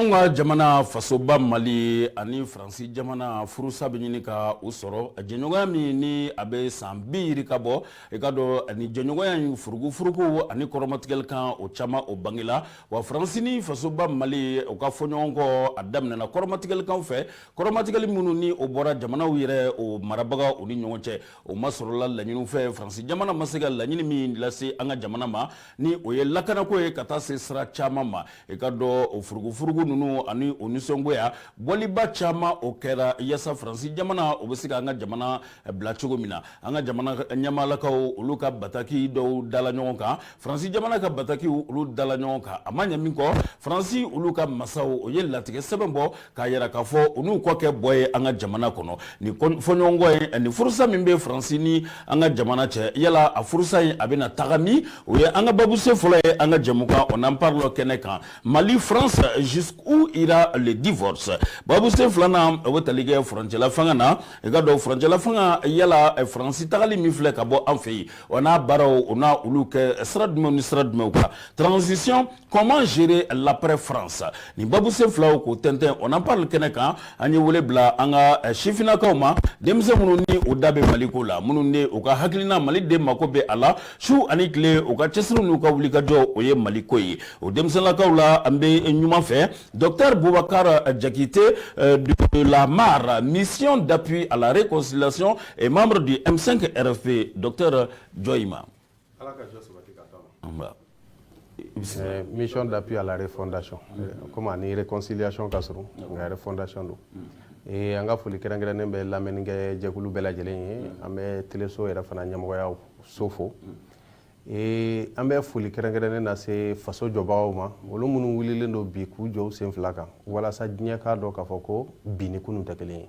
anw ka jamana fasoba mali ani faransi jamana furusa bɛ ɲini ka u sɔrɔ jɛɲɔgɔnya min ni a bɛ san bi yirika bɔ i ka dɔn ani jɛɲɔgɔnya in furugufurugu ani kɔrɔmatigɛli kan o caman o bangela wa faransi ni fasoba mali u ka fɔɲɔgɔnkɔ a daminɛna kɔrɔmatigɛli kan fɛ kɔrɔmatigɛli minnu ni o bɔra jamanaw yɛrɛ o marabagaw ni ɲɔgɔn cɛ o ma sɔrɔla laɲiniw fɛ faransi jamana ma se ka laɲini min lase an ka jamana ma ni o ye lakanako ye ka taa se sira caman ma i ka dɔn o furugufurugu ninnu ani o nisɔngoya bɔliba caman o kɛra yasa faransi jamana o bɛ se ka an ka jamana bila cogo min na an ka jamana ɲamalakaw olu ka bataki dɔw dala ɲɔgɔn kan faransi jamana ka batakiw olu dala ɲɔgɔn kan a ma ɲɛ min kɔ faransi olu ka masaw o ye latigɛ sɛbɛn bɔ k'a yira k'a fɔ u n'u kɔ kɛ bɔ ye an ka jamana kɔnɔ nin fɔɲɔgɔnkɔ ye ani furusa min bɛ faransi ni an ka jamana cɛ yala a furusa in a bɛna taga min o ye an ka babusen fɔlɔ ye an ka jɛmukan on en parle kɛnɛ kan mali france jusqu'où ira le divorce babusen filanan o bɛ tali kɛ furancɛla fanga na i ka dɔn furancɛla fanga yala faransi tagali min filɛ ka bɔ an fɛ yen o n'a baaraw o n'a olu kɛ sira jumɛn ni sira jumɛnw kan transition Comment gérer l'après France Ni babusen filaw k'o tɛntɛn on en parle kɛnɛ kan an ye wele bila an ka eh, sifinnakaw ma denmisɛn minnu ni u da bɛ Mali ko la minnu ni u ka hakilina Mali de mako bɛ a la su ani tile u ka cɛsiri n'u ka wulikajɔ o ye Mali ko ye o denmisɛnlakaw la an bɛ numan fɛ docteur Boubacar Diakité eh, de la MAR mission d'appui à la réconciliation et membre du M5 RFP docteur jɔ i ma Ala ka jɔ sabati ka to a ma. C'est mission d'appui à la refondation comme a ni réconciliation ka surun nka refondation don ee an ka foli kɛrɛnkɛrɛnnen bɛ lamɛnnikɛ jɛkulu bɛɛ lajɛlen ye an bɛ teleso yɛrɛ fana ɲɛmɔgɔyaso fo ee an bɛ foli kɛrɛnkɛrɛnnen lase faso jɔbagaw ma olu minnu wulilen don bi k'u jɔ u sen fila kan walasa diɲɛ k'a dɔn k'a fɔ ko bi ni kunun tɛ kelen ye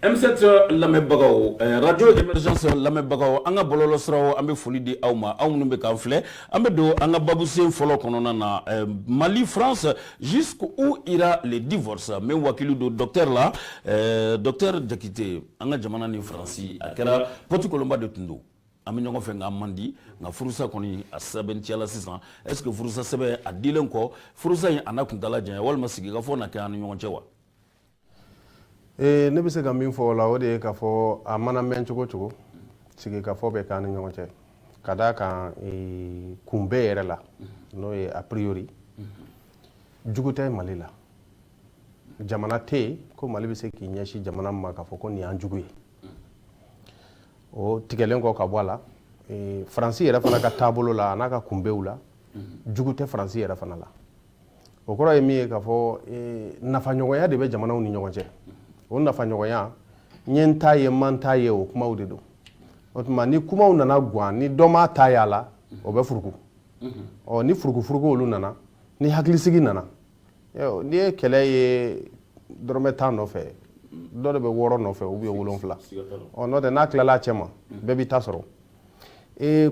M7 lamɛnbagaw radio émergence lamɛnbagaw an ka bɔlɔlɔsiraw an bɛ foli di aw ma aw minnu bɛ k'an filɛ an bɛ don an ka babusen fɔlɔ kɔnɔna na mali france jusqu'où ira le divorce n bɛ wakilu don docteur la docteur Diakité an ka jamana ni faransi a kɛra psikolonba de tun don an bɛ ɲɔgɔn fɛ ka man di nka furusa kɔni a sɛbɛntiyala sisan est-ce que furusasɛbɛn a dilen kɔ furusa in a na kuntaala janya walima sigikafɔ na kɛ an ni ɲɔgɔn cɛ wa ee ne bɛ se ka min fɔ o la o de ye k'a fɔ a mana mɛn cogo cogo sigikafɔ bɛ k'an ni ɲɔgɔn cɛ ka d'a kan kunbɛ yɛrɛ la n'o ye a priori jugu tɛ mali la jamana tɛ yen ko mali bɛ se k'i ɲɛsin jamana ma k'a fɔ ko nin y'an jugu ye o tigɛlen kɔ ka bɔ a la faransi yɛrɛ fana ka taabolo la a n'a ka kunbɛw la jugu tɛ faransi yɛrɛ fana la o kɔrɔ ye min ye k'a fɔ eh, nafaɲɔgɔnya de bɛ jamanaw ni ɲɔgɔn cɛ o nafaɲɔgɔnya n ye n ta ye n ma n ta ye o kumaw de don o tuma ni kumaw nana gan ni dɔ m'a ta ye a la o bɛ furuku ɔ ni furukufuruku olu nana ni hakilisigi nana n'i ye kɛlɛ ye dɔrɔmɛ tan nɔfɛ dɔ de bɛ wɔɔrɔ nɔfɛ ou bien wolonfila ɔ n'o tɛ n'a tilala a cɛ ma bɛɛ b'i ta sɔrɔ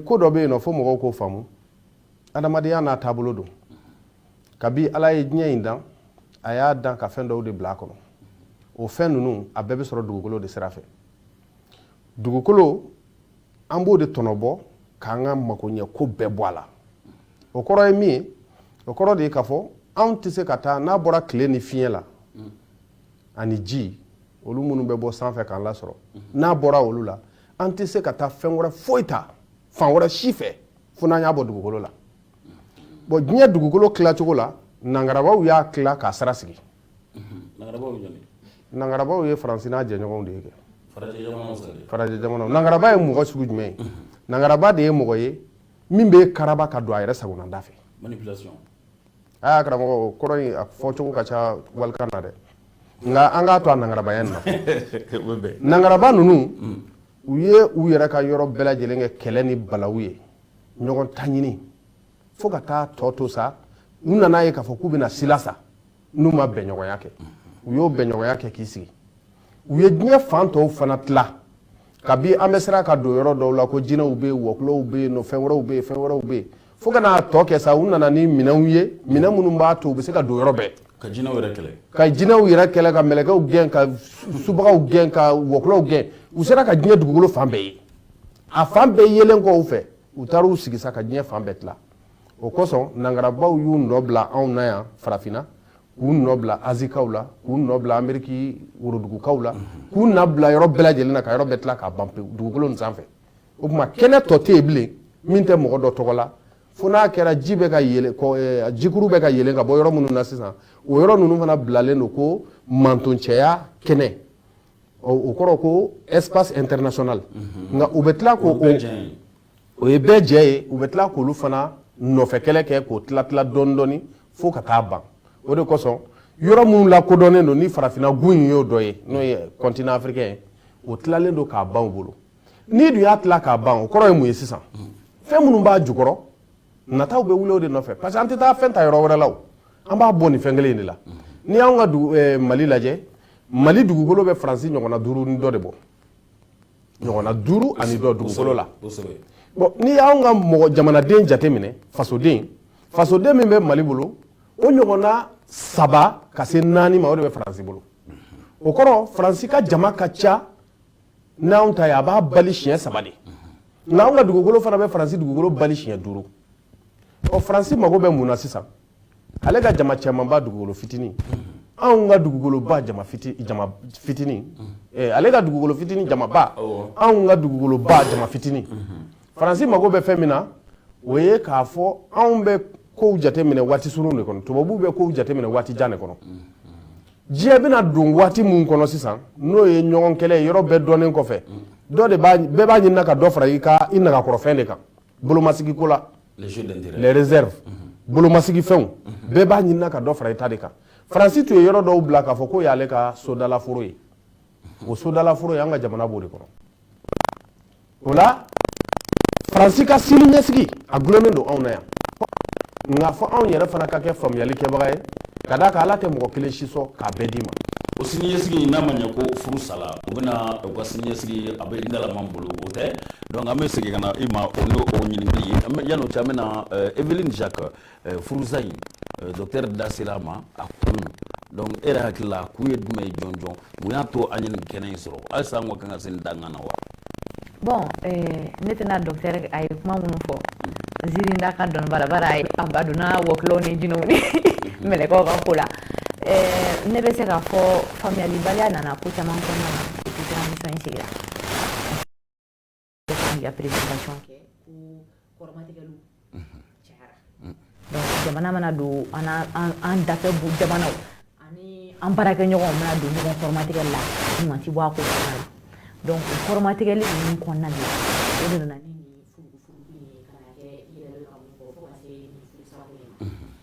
ko dɔ bɛ yen nɔ fo mɔgɔw k'o faamu adamadenya n'a taabolo don kabi ala ye diɲɛ in dan a y'a dan ka fɛn dɔw de bila a kɔnɔ o fɛn ninnu a bɛɛ bɛ sɔrɔ dugukolo de sira fɛ dugukolo an b'o de tɔnɔbɔ k'an ka makoɲɛ ko bɛɛ bɔ a la o kɔrɔ ye min ye o kɔrɔ de ye k'a fɔ anw tɛ se ka taa n'a bɔra tile ni fiɲɛ la ani ji olu minnu bɛ bɔ sanfɛ k'an lasɔrɔ n'a bɔra olu la an tɛ se ka taa fɛn wɛrɛ foyi ta fan wɛrɛ si fɛ fo n'an y'a bɔ dugukolo la bon diɲɛ dugukolo tilacogo la nangarabaw y'a tila k'a sara sigi nangarabaw ye faransi n'a jɛɲɔgɔnw de ye kɛ farajɛ jamanaw nangaraba ye mɔgɔ sugu jumɛn ye nangaraba de ye mɔgɔ ye min bɛ karaba ka don a yɛrɛ sagonada fɛ manipulation karamɔgɔ kɔrɔ a fɔcogo ka ca walikan na dɛ nka an k'a to a nangarabaya na nangaraba ninnu u ye u yɛrɛ ka yɔrɔ bɛɛ lajɛlen kɛ kɛlɛ ni balawu ye ɲɔgɔn ta ɲini fo ka taa tɔ to sa u nan'a ye k'a fɔ k'u bɛna silasa n'u ma bɛnɲɔgɔnya kɛ u y'o bɛnɲɔgɔnya kɛ k'i sigi u ye diɲɛ fan tɔw fana tila kabi an bɛ siran ka don yɔrɔ dɔw la ko jinɛw bɛ yen wɔkulɔw bɛ yen nɔ fɛn wɛrɛw bɛ yen fɛn wɛrɛw bɛ yen fo ka n'a tɔ kɛ sa u nana ni minɛnw ye minɛn minnu b'a to u bɛ se ka don yɔrɔ bɛɛ ka jinɛw yɛrɛ kɛlɛ ka jinɛw yɛrɛ kɛlɛ ka mɛlɛkɛw gɛn ka subagaw gɛn ka wɔkulɔw gɛn u sera ka diɲɛ dugukolo fan bɛɛ ye a fan bɛɛ yelen kɔ u fɛ u taara u sigi sa ka diɲɛ fan bɛɛ tila o kosɔn nangarabaw y'u nɔ bila anw na yan farafinna k'u nɔ bila azikaw la k'u nɔ bila ameriki worodugukaw la k'u nɔ bila yɔrɔ bɛɛ lajɛlen na ka yɔrɔ bɛɛ tila k'a ban pewu dugukolo nin sanfɛ o tuma kɛnɛ tɔ tɛ yen bilen min tɛ mɔgɔ dɔ tɔgɔ la fo n'a kɛra ji bɛ ka yɛlɛ eh, jikuru bɛ ka yɛlɛ ka bɔ yɔrɔ minnu na sisan o yɔrɔ ninnu fana bilalen don ko mantoncɛya kɛnɛ o kɔrɔ ko espace international mhm. nka u bɛ tila ko o ye bɛɛ jɛ ye u bɛ tila k'olu fana nɔfɛ kɛlɛ kɛ k'o tila tila dɔɔni dɔɔni fo ka taa ban o de kosɔn yɔrɔ minnu lakodɔnnen don ni farafinna gun in y'o dɔ ye n'o ye continent africain ye o tilalen don k'a ban u bolo n'i dun y'a tila k'a ban o kɔrɔ ye mun ye sisan fɛn minnu b'a jukɔrɔ nataw bɛ wuli o de nɔfɛ parce que an tɛ taa fɛn ta yɔrɔ wɛrɛ la o an b'a bɔ nin fɛn kelen in de la n'i y'anw ka dugu eh, mali lajɛ mali dugukolo bɛ faransi ɲɔgɔnna duuru ni dɔ de bɔ ɲɔgɔnna duuru ani dɔ dugukolo la kosɛbɛ bon n'i y'anw ka mɔgɔ jamanaden jateminɛ fasoden fasoden min bɛ mali bolo o ɲɔgɔnna saba ka se naani ma o de bɛ faransi bolo o kɔrɔ faransi ka jama ka ca n'anw ta ye a b'a bali siɲɛ saba de nka anw ka dugukolo fana bɛ faransi dugukolo bali siɲɛ duuru ɔ faransi mago bɛ mun na sisan ale ka jama camanba dugukolo fitinin anw ka dugukoloba jama fitinin eh, ale ka dugukolo fitinin jamaba anw ka dugukoloba jama fitinin faransi mago bɛ fɛn min na o ye k'a fɔ anw bɛ kow jateminɛ waati surun de kɔnɔ tubabuw bɛ kow jateminɛ waati jan de kɔnɔ diɲɛ bɛna don waati min kɔnɔ sisan n'o ye ɲɔgɔn kɛlɛ ye yɔrɔ bɛɛ dɔnnen kɔfɛ dɔ de bɛɛ b'a ɲinina ka dɔ fara i ka i nagakɔrɔfɛn de kan bolomasigi ko la les réserves bolomasigi fɛnw bɛɛ b'a ɲinina ka dɔ fara i ta de kan faransi tun ye yɔrɔ dɔw bila k'a fɔ k'o y'ale ka sodalaforo ye o sodalaforo y'an ka jamana b'o de kɔnɔ o la faransi ka sini ɲɛsigi a gulonnen don anw na yan nka fo anw yɛrɛ fana ka kɛ faamuyali kɛbaga ye ka d'a kan ala tɛ mɔgɔ kelen si sɔn k'a bɛɛ d'i ma o siniɲɛsigi n'a ma ɲɛ ko furu sala u bɛna u ka siniɲɛsigi a bɛ dalaman bolo o tɛ donc an bɛ segin ka na i ma o n'o o ɲininkali ye yan'o cɛ an bɛna evelyne jacques eh, furusa in eh, docteur da sera a ma a kun donc e yɛrɛ hakili la a kun ye jumɛn ye jɔnjɔn mun y'a to an ye nin kɛnɛ in sɔrɔ halisa an ka kan ka se nin dankan na wa bon eh, ne tɛna docteur a ye kuma minnu fɔ ziiri da ka dɔnniba la bari a donna wɔkulɔw ni jinɛw ni mɛlɛkɛw ka ko la eh, ne bɛ se k'a fɔ faamuyalibaliya nana ko caman kɔnɔna na depuis transition in sigira Ka pere kɛ kolotigɛliw jamana mana don an da bon jamana ani an baara kɛ ɲɔgɔn mana don ɲɔgɔntigɛ la mati bɔ ko dɔn kolomatigɛli ninnu kɔnɔna na e nana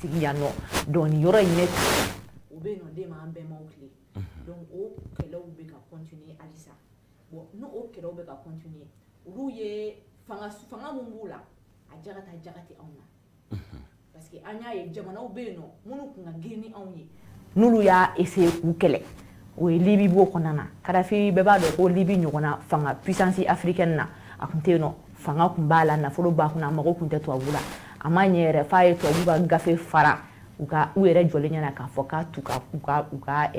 sigi yan nɔ donc nin yɔrɔ in ne o bɛ yen nɔ den m'an bɛnbaw tile donc o kɛlɛw bɛ ka continuer halisa bon n'o o kɛlɛw bɛ ka continuer olu ye fanga min b'u la a jaga tɛ jaga tɛ anw na parce que an y'a ye jamanaw bɛ yen nɔ minnu tun ka girin ni anw ye n'olu y'a essayer k'u kɛlɛ o ye libi b'o kɔnɔna na kadafi bɛɛ b'a dɔn ko libi ɲɔgɔnna fanga puissance africaine na a tun tɛ yen nɔ fanga tun b'a la nafolo b'a kunna a mago tun tɛ tubabu la a ma ɲɛ yɛrɛ f'a ye tubabu ka gafe fara u ka u yɛrɛ jɔlen ɲɛna k'a fɔ k'a t'u ka u ka u ka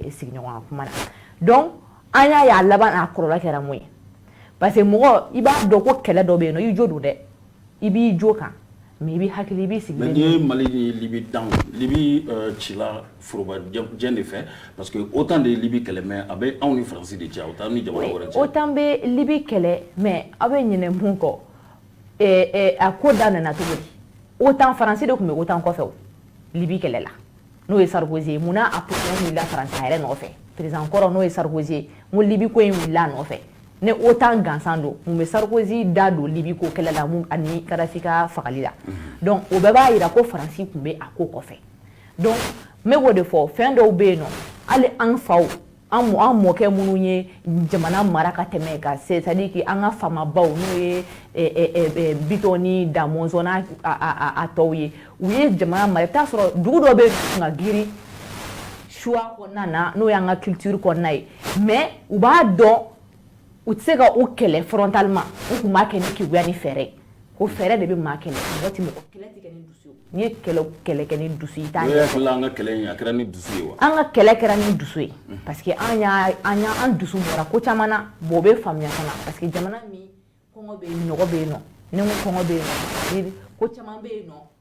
sigiɲɔgɔnya kuma na donc an y'a ye a laban n'a kɔlɔlɔ kɛra mun ye parce que mɔgɔ i b'a dɔn ko kɛlɛ dɔ bɛ yen nɔ i jo don dɛ i b'i jo kan mais i b'i hakili i b'i sigi n'i ye mali ni libi dan libi cila foroba jɛ de fɛ parce que otan de ye libi kɛlɛ mais a bɛ anw ni faransi de cɛ o t'an ni jamana wɛrɛ cɛ otan bɛ libi kɛlɛ mais aw bɛ ɲinɛ mun kɔ a ko daminɛna cogo di otan faransi de tun bɛ otan kɔfɛ libi kɛlɛ la n'o ye sarkozy ye munna a procès wulila faransi a yɛrɛ nɔfɛ président kɔrɔ n'o ye sarkozy ye ko libi ko in wulila a nɔfɛ ni otan gansan don mun bɛ sarkozy da don libi ko kɛlɛ la mun ani kadafi ka fagali la donc o bɛɛ b'a yira ko faransi tun bɛ a ko kɔfɛ donc n bɛ k'o de fɔ fɛn dɔw bɛ yen nɔ hali an faw an mɔkɛ minnu ye jamana mara ka tɛmɛ ka c'est-à-dire que an ka faamabaw n'o ye bitɔn ni da mɔnzɔn n'a tɔw ye u ye jamana mara i t'a sɔrɔ dugu dɔ bɛ ka girin soit kɔnɔna na n'o y'an ka culture kɔnɔna ye mais u b'a dɔn u tɛ se ka o kɛlɛ frontalement u tun b'a kɛ ni keguya ni fɛɛrɛ ye ko fɛɛrɛ de bɛ maa kɛlɛ mɔgɔ tɛ mɔgɔ kɛlɛ tɛ kɛ ni dusu ye n'i ye kɛlɛ kɛlɛ kɛ ni dusu ye i t'a ɲɛ sɔrɔ an ka kɛlɛ in a kɛra ni dusu ye wa an ka kɛlɛ kɛra ni dusu ye parce que an y'a an y'a an dusu bɔra ko caman na bon o bɛ faamuya fana parce que jamana min kɔngɔ bɛ yen nɔgɔ bɛ yen nɔ ne ko kɔngɔ bɛ yen nɔ ko caman bɛ yen nɔ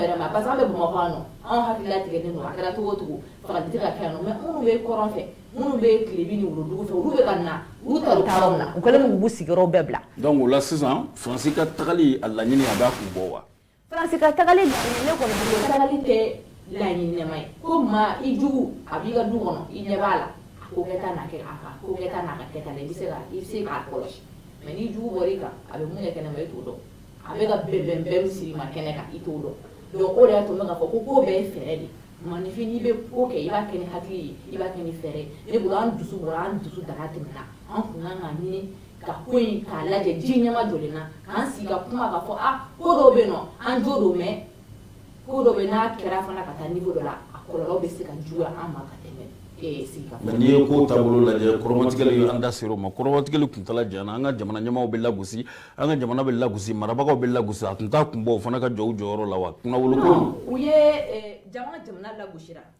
Yɛrɛ ma parce bɛ mɔgɔ kɔnɔ anw hakili tigɛ ne a kɛra cogo cogo ka kɛ minnu bɛ kɔrɔn fɛ minnu bɛ tile fɛ u sigiyɔrɔ bɛɛ bila dɔnku la sisansi ka tagali a laɲini a kun bɔ wa tɛ laɲini ɲɛna ye ko maa i jugu a b'i ka du kɔnɔ i ɲɛ b'a la ko kɛ kɛ i bɛ se kɔlɔsi mɛ jugu bɔ kan a bɛ mun kɛnɛ ma i t'o dɔn a bɛ ka bɛnbɛn min siri i ma kɛnɛ kan i t'o dɔn donc o de y'a to n bɛ k'a fɔ ko ko bɛɛ ye fɛɛrɛ de manifin n'i bɛ ko kɛ i b'a kɛ ni hakili ye i b'a kɛ ni fɛɛrɛ ne bolo an dusu bɔra an dusu daga tɛmɛna an kun kan k'a ɲini ka ko in k'a lajɛ ji ɲɛmajɔlen na k'an sigi ka kuma k'a fɔ a ah, ko dɔw bɛ yen nɔ an jo don mais ko dɔ bɛ n'a kɛra fana ka taa niveau dɔ la a kɔlɔlɔ bɛ se ka juguya an ma ka tɛmɛ ee sigikafɔ mais n'i ye ko taabolo lajɛ kɔrɔmatigɛli an da sera o ma kɔrɔmatigɛli kuntala janyana an ka jamana ɲɛmaaw bɛ lagosi an ka jamana bɛ lagosi marabagaw bɛ lagosi a tun t'a kun bɔ u fana ka jɔ u jɔyɔrɔ la wa kunnawoloko u ye eh, jamana jamana lagosira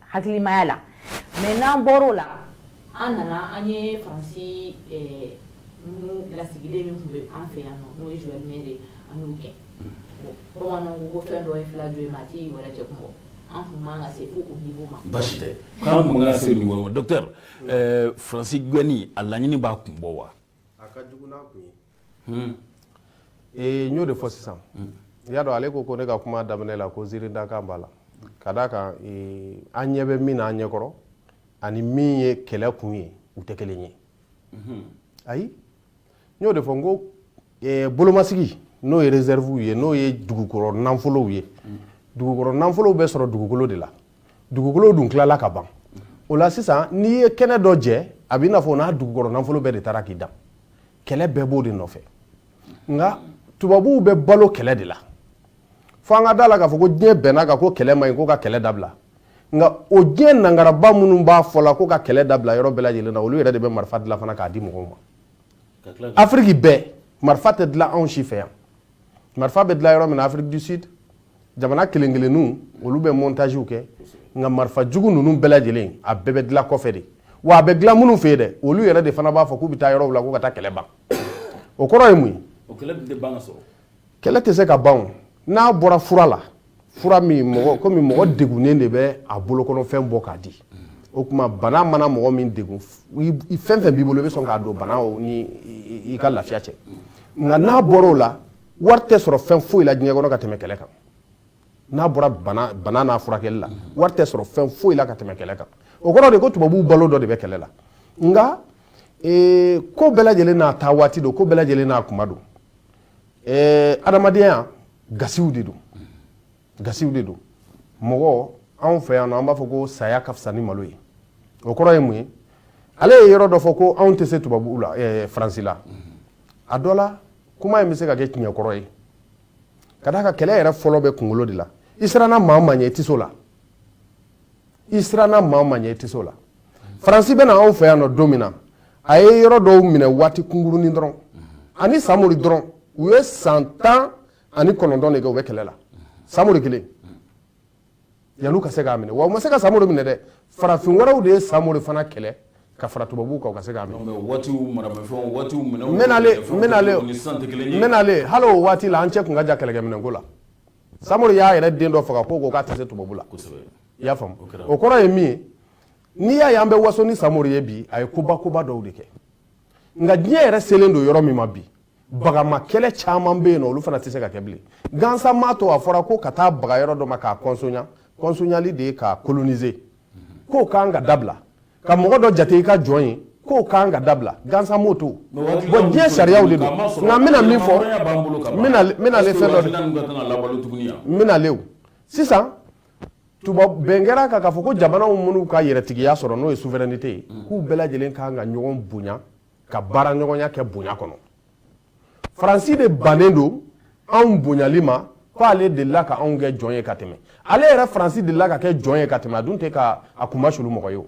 Hakilimaya la mais n'an bɔr'o la an nana an ye France ɛɛ minnu lasigiden min tun bɛ an fɛ yan nɔ n'o ye Joël Meyer ye an y'o gɛn bon bamananw ko ko fɛn dɔ ye fila jo ye mais a tɛ i wɛrɛ cɛ kun bɔ an tun man kan ka se fo o niveau ma basi tɛ k'an tun man kan ka se o niveau ma docteur ɛɛ France gɛnni a laɲini b'a kun bɔ wa y'o de fɔ sisan i y'a dɔn ale ko ko ne ka kuma daminɛ la ko ziiridakan b'a la ka d'a kan an ɲɛ bɛ min na an ɲɛ kɔrɔ ani min ye kɛlɛ kun ye u tɛ kelen ye ayi n y'o de fɔ n ko bolomasigi n'o ye réservew ye n'o ye dugukɔrɔ nafolow ye dugukɔrɔ nafolow bɛ sɔrɔ dugukolo de la dugukolo dun tilala ka ban o la sisan n'i ye kɛnɛ dɔ jɛ a b'i n'a fɔ n'a dugukɔrɔ nafolo bɛɛ de taara k'i dan kɛlɛ bɛɛ b'o de nɔfɛ nka tubabuw bɛ balo kɛlɛ de la fo an ka da la k'a fɔ ko diɲɛ bɛnn'a kan ko kɛlɛ man ɲi ko ka kɛlɛ dabila nka o diɲɛ nangaraba minnu b'a fɔ la ko ka kɛlɛ dabila yɔrɔ bɛɛ lajɛlen na olu yɛrɛ de bɛ marifa dilan fana k'a di mɔgɔw ma afiriki bɛɛ marifa tɛ dilan anw si fɛ yan marifa bɛ dilan yɔrɔ min na Afrique du Sud jamana kelen kelenninw olu bɛ montagew kɛ nka marifa jugu ninnu bɛɛ lajɛlen a bɛɛ bɛ dilan kɔfɛ de wa a bɛ dilan minnu fɛ yen dɛ olu yɛrɛ de fana b'a fɔ k'u bɛ taa yɔrɔw la ko ka taa kɛlɛ ban o kɔrɔ ye mun ye kɛlɛ tɛ se ka ban n'a bɔra fura la fura min mɔgɔ komi mɔgɔ degunnen de bɛ a bolokɔnɔfɛn bɔ k'a di o tuma bana mana mɔgɔ min degun fɛn fɛn b'i bolo i bɛ sɔn k'a don bana ni i ka lafiya cɛ nka n'a bɔra o la wari tɛ sɔrɔ fɛn foyi la diɲɛ kɔnɔ ka tɛmɛ kɛlɛ kan n'a bɔra bana n'a furakɛli la wari tɛ sɔrɔ fɛn foyi la ka tɛmɛ kɛlɛ kan o kɔrɔ de ko tubabuw balo dɔ de bɛ kɛlɛ la nka ko bɛɛ lajɛlen n'a ta waati don ko bɛɛ lajɛlen n'a tuma don adamadenya gasiw de don gasiw de don mɔgɔ anw fɛ yan an b'a fɔ ko saya ka fisa ni malo ye o kɔrɔ ye mun ye ale ye yɔrɔ dɔ fɔ ko anw tɛ se tubabuw la faransi la a dɔ la kuma in bɛ se ka kɛ tiɲɛ kɔrɔ ye ka d'a kan kɛlɛ yɛrɛ fɔlɔ bɛ kunkolo de la i siranna maa o maa ɲɛ i tɛ se o la i siranna maa o maa ɲɛ i tɛ se o la faransi bɛ na anw fɛ yan nɔ don min na a ye yɔrɔ dɔw minɛ waati kunkurunin dɔrɔn a ni samori dɔrɔn u ye san tan ani kɔnɔntɔn de kɛ u bɛ kɛlɛ la samori kelen yanni u ka se k'a minɛ wa u ma se ka samori minɛ dɛ farafin wɛrɛw de ye samori fana kɛlɛ ka fara tubabu kan ka se k'a minɛ hali o waati la an cɛ tun ka jan kɛlɛkɛminɛn ko la samori y'a yɛrɛ den dɔ faga ko k'a tɛ se tubabu la i y'a faamu o kɔrɔ ye min ye n'i y'a ye an bɛ waso ni samori ye bi a ye koba koba dɔw de kɛ nka diɲɛ yɛrɛ selen don yɔrɔ min ma bi bagama kɛlɛ caman bɛ yen nɔ olu fana tɛ se ka kɛ bilen gansan m'a to a fɔra ko ka taa baga yɔrɔ dɔ ma k'a kɔnsonya kɔnsonyali de ye k'a kolonize k'o kan ka dabila ka mɔgɔ dɔ jate i ka jɔn ye k'o kan ka dabila gansan m'o to bɔn diɲɛ sariyaw de don nka n bɛna min fɔ n bɛnale fɛn dɔ de n bɛnalew sisan bɛn kɛra a kan k'a fɔ ko jamanaw minnu ka yɛrɛtigiya sɔrɔ n'o ye souveraineté ye k'u bɛɛ lajɛlen kan ka ɲɔgɔn bonya ka baara ɲɔgɔnya kɛ bonya kɔnɔ faransi de bannen don anw bonyali ma ko ale delila ka anw kɛ jɔn ye ka tɛmɛ ale yɛrɛ faransi delila ka kɛ jɔn ye ka tɛmɛ a dun tɛ ka a kunmasulu mɔgɔ ye o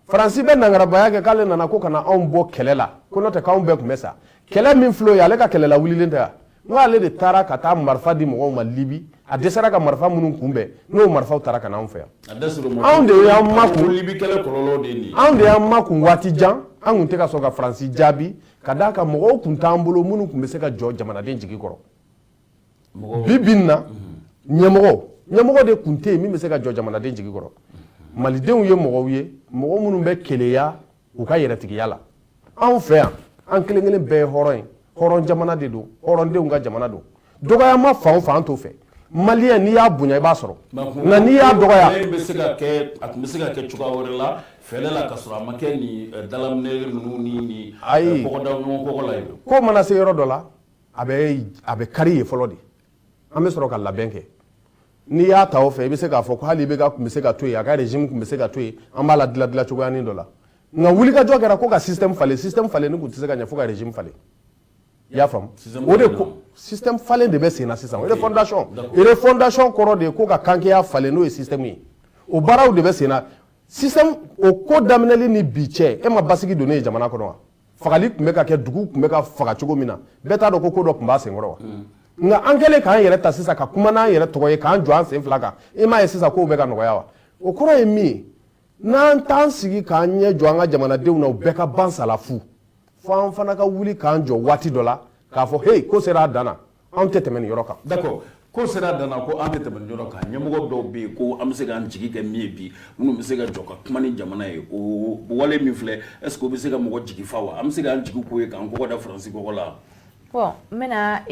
faransi bɛ nangarabaya kɛ k'ale nana ko ka na anw bɔ kɛlɛ la ko n'o tɛ k'anw bɛɛ tun bɛ sa kɛlɛ min filɛ o ye ale ka kɛlɛ lawulilen tɛ wa N ale de taara ka taa marifa di mɔgɔw ma libi a dɛsɛra ka marifa minnu kunbɛn n'o marifaw taara ka na anw fɛ yan anw de kun anw de y'an makun waati jan anw tun tɛ ka sɔn ka faransi jaabi ka d'a kan mɔgɔw tun t'an bolo minnu tun bɛ se ka jɔ jamanaden jigi kɔrɔ bi bi in na ɲɛmɔgɔ ɲɛmɔgɔ de tun tɛ yen min bɛ se ka jɔ jamanaden jigi kɔrɔ malidenw ye mɔgɔw ye mɔgɔ minnu bɛ keleya u ka yɛrɛtigiya la anw fɛ yan an kelen kelen bɛɛ ye hɔrɔn ye hɔrɔn jamana de don hɔrɔndenw ka jamana don dɔgɔyama fan o fan an t'o fɛ maliyɛn n'i y'a bonya i b'a sɔrɔ nka n'i y'a dɔgɔya a tun bɛ se ka kɛ cogoya wɛrɛ la fɛlɛ la ka sɔrɔ a ma kɛ ni eh, dalaminɛ ninnu ni ni eh, ayi kɔgɔ da ɲɔgɔn kɔgɔ la ye ko mana se yɔrɔ dɔ la a bɛ a bɛ kari yen fɔlɔ de an bɛ sɔrɔ ka labɛn kɛ n'i y'a ta o fɛ i bɛ se k'a fɔ ko hali IBK tun bɛ se ka to yen a ka régime tun bɛ se ka to yen an b'a la dilan dilan cogoyanin dɔ la nka wulikajɔ kɛra ko ka système falen système falen ni tun tɛ se ka ɲɛ fo ka régime falen i y'a faamu o de ko système falen de bɛ sen na sisan refondation refondation kɔrɔ de ye ko ka kankeya falen n'o ye système ye o baaraw de bɛ sen na système o ko daminɛli ni bi cɛ e ma basigi dɔɔnin ye jamana kɔnɔ wa fagali tun bɛ ka kɛ dugu tun bɛ ka faga cogo min na bɛɛ t'a dɔn ko ko dɔ tun b'a senkɔrɔ wa mm. nka an kɛlen k'an yɛrɛ ta sisan ka kuma n'an yɛrɛ tɔgɔ ye k'an jɔ an sen fila kan i m'a ye sisan kow bɛ ka nɔgɔya wa o kɔrɔ ye min ye n'an t'an sigi k'an ɲɛ jɔ an ka jamanadenw na u bɛɛ ka ban sa la fu fo an fana ka wuli k'an jɔ waati dɔ la k'a fɔ heyi ko sera a dan na Anw tɛ tɛmɛ nin yɔrɔ kan d'accord ko sera a dan na ko an tɛ tɛmɛ nin yɔrɔ kan ɲɛmɔgɔ dɔw bɛ yen ko an bɛ se k'an jigi kɛ min ye bi minnu bɛ se ka jɔ ka kuma ni jamana ye o wale min filɛ est-ce que o bɛ se ka mɔgɔ jigi fa wa an bɛ se k'an jigi k'o ye k'an kɔgɔ da faransi kɔgɔ la bon n bɛna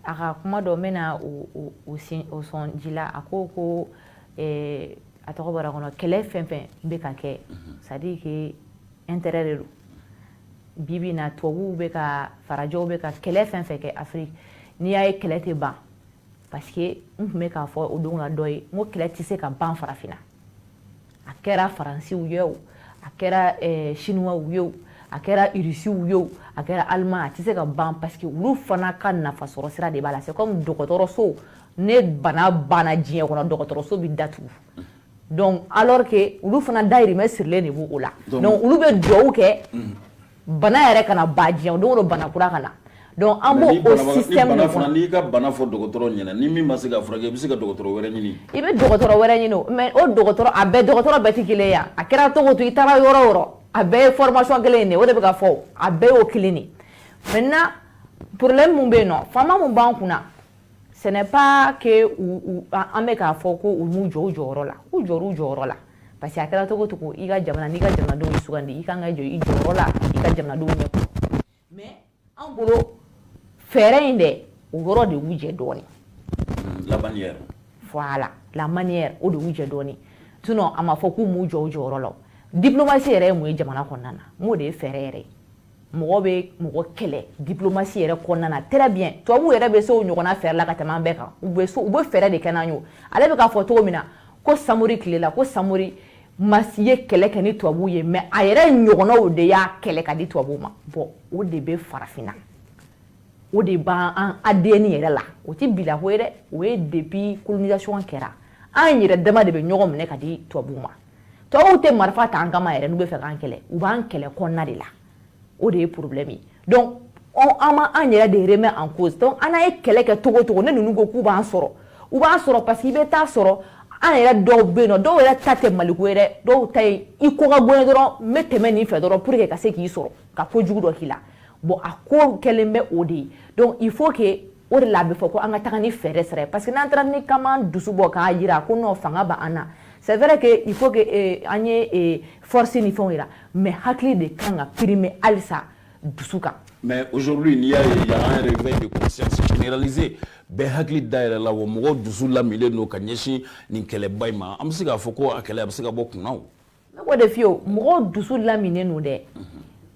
a ka kuma dɔ n bɛna o sɔn ji la a ko ko a tɔgɔ bɔra kɔnɔ kɛlɛ fɛn fɛn bɛ ka kɛ c'est-à-dire que intérêt de don bibi na tubabuw bɛ ka farajɛw bɛ ka kɛlɛ fɛn fɛn kɛ afiriki n'i y'a ye kɛlɛ tɛ ban parce que n tun bɛ k'a fɔ o don na dɔ ye n ko kɛlɛ tɛ se ka ban farafinna a kɛra faransiw ye o a kɛra eh, siniwaw ye o a kɛra irisiw ye o a kɛra allemand a tɛ se ka ban parce que olu fana ka nafasɔrɔ sira de b'a la c'est comme dɔgɔtɔrɔso ni bana banna diɲɛ kɔnɔ dɔgɔtɔrɔso bɛ datugu donc alors que olu fana dayirimɛ sirilen de b'o o la donc olu bɛ duwawu kɛ bana yɛrɛ kana ban diɲɛ o don o don bana kura ka na donc an b'o o système de kɔnɔ n'i ka bana fɔ dɔgɔtɔrɔ ɲɛna ni min ma se k'a furakɛ i bɛ se ka dɔgɔtɔrɔ wɛrɛ ɲini i bɛ dɔgɔtɔrɔ wɛrɛ ɲini o mais o dɔgɔtɔrɔ a bɛɛ dɔgɔtɔrɔ bɛɛ tɛ kelen ye a kɛra cogo o cogo i taara yɔrɔ o yɔrɔ a bɛɛ ye formation kelen in de o de bɛ ka fɔ a bɛɛ y'o kelen de maintenant problème mun bɛ yen nɔ faama mun b'an kunna ce n'est pas que an bɛ k'a fɔ ko u m'u jɔ u jɔyɔrɔ la u jɔra u jɔyɔrɔ la parce que a kɛra cogo o cogo i ka jamana n'i ka jamanadenw y'i sugandi i kan ka jɔ i jɔyɔrɔ la i ka jamanadenw ɲɛ kɔrɔ mais an bolo fɛɛrɛ in dɛ o yɔrɔ de y'u jɛ dɔɔnin la manière voilà la manière o de y'u jɛ dɔɔnin sinon a ma fɔ k'u m'u jɔ u jɔyɔrɔ la diplomatie yɛrɛ ye mun ye jamana kɔnɔna na n b'o de ye fɛɛrɛ yɛrɛ ye mɔgɔ bɛ mɔgɔ kɛlɛ diplomatie yɛrɛ kɔnɔna na très bien tubabuw yɛrɛ bɛ se o ɲɔgɔnna fɛɛrɛ la ka tɛmɛ an bɛɛ kan u bɛ u bɛ fɛɛrɛ de kɛ n'an ye ale bɛ k'a fɔ cogo min na ko samori tile la ko samori masi ye kɛlɛ kɛ ni tubabuw ye mais a yɛrɛ ɲɔgɔnnaw de y'a kɛlɛ ka di tubabuw ma bon o de bɛ farafinna o de b'an an ADN yɛrɛ la o tɛ bilako ye dɛ o ye depuis colonisation kɛra an yɛrɛ dama de bɛ ɲɔgɔn minɛ ka di tubabuw ma tubabuw tɛ marifa ta an kama yɛrɛ n'u bɛ fɛ k'an kɛlɛ u b'an kɛlɛ kɔnɔna de la o de ye problème ye donc an ma an yɛrɛ de remet en cause donc an n'an ye kɛlɛ kɛ cogo o cogo ni ninnu ko k'u b'an sɔrɔ u b'an sɔrɔ parce que i bɛ t'a sɔrɔ an yɛrɛ dɔw bɛ yen nɔ dɔw yɛrɛ ta tɛ maliko ye dɛ dɔw ta ye i ko ka go n ye dɔrɔn n bɛ tɛmɛ nin fɛ dɔrɔn pour que ka se k'i sɔrɔ ka ko jugu dɔ k'i la bon a ko kɛlen bɛ o de ye donc il faut que o de la a bɛ fɔ ko an ka taga ni fɛɛrɛ sira ye parce que n'an taara ni k'an dusu bɔ k'a jira ko non fanga b'an na c'est vrai que il faut que eh, an ye eh, force ni fɛnw jira mais hakili de kan ka primer halisa dusu kan mais aujourd'hui n'i y'a ye il y a un réveil de conscience généralisé bɛɛ hakili dayɛlɛla wa mɔgɔw dusu lamilen don ka ɲɛsin nin kɛlɛba in ma an bɛ se k'a fɔ ko a kɛlɛ a bɛ se ka bɔ kunna wa ne ko de fi o mɔgɔw dusu laminen don dɛ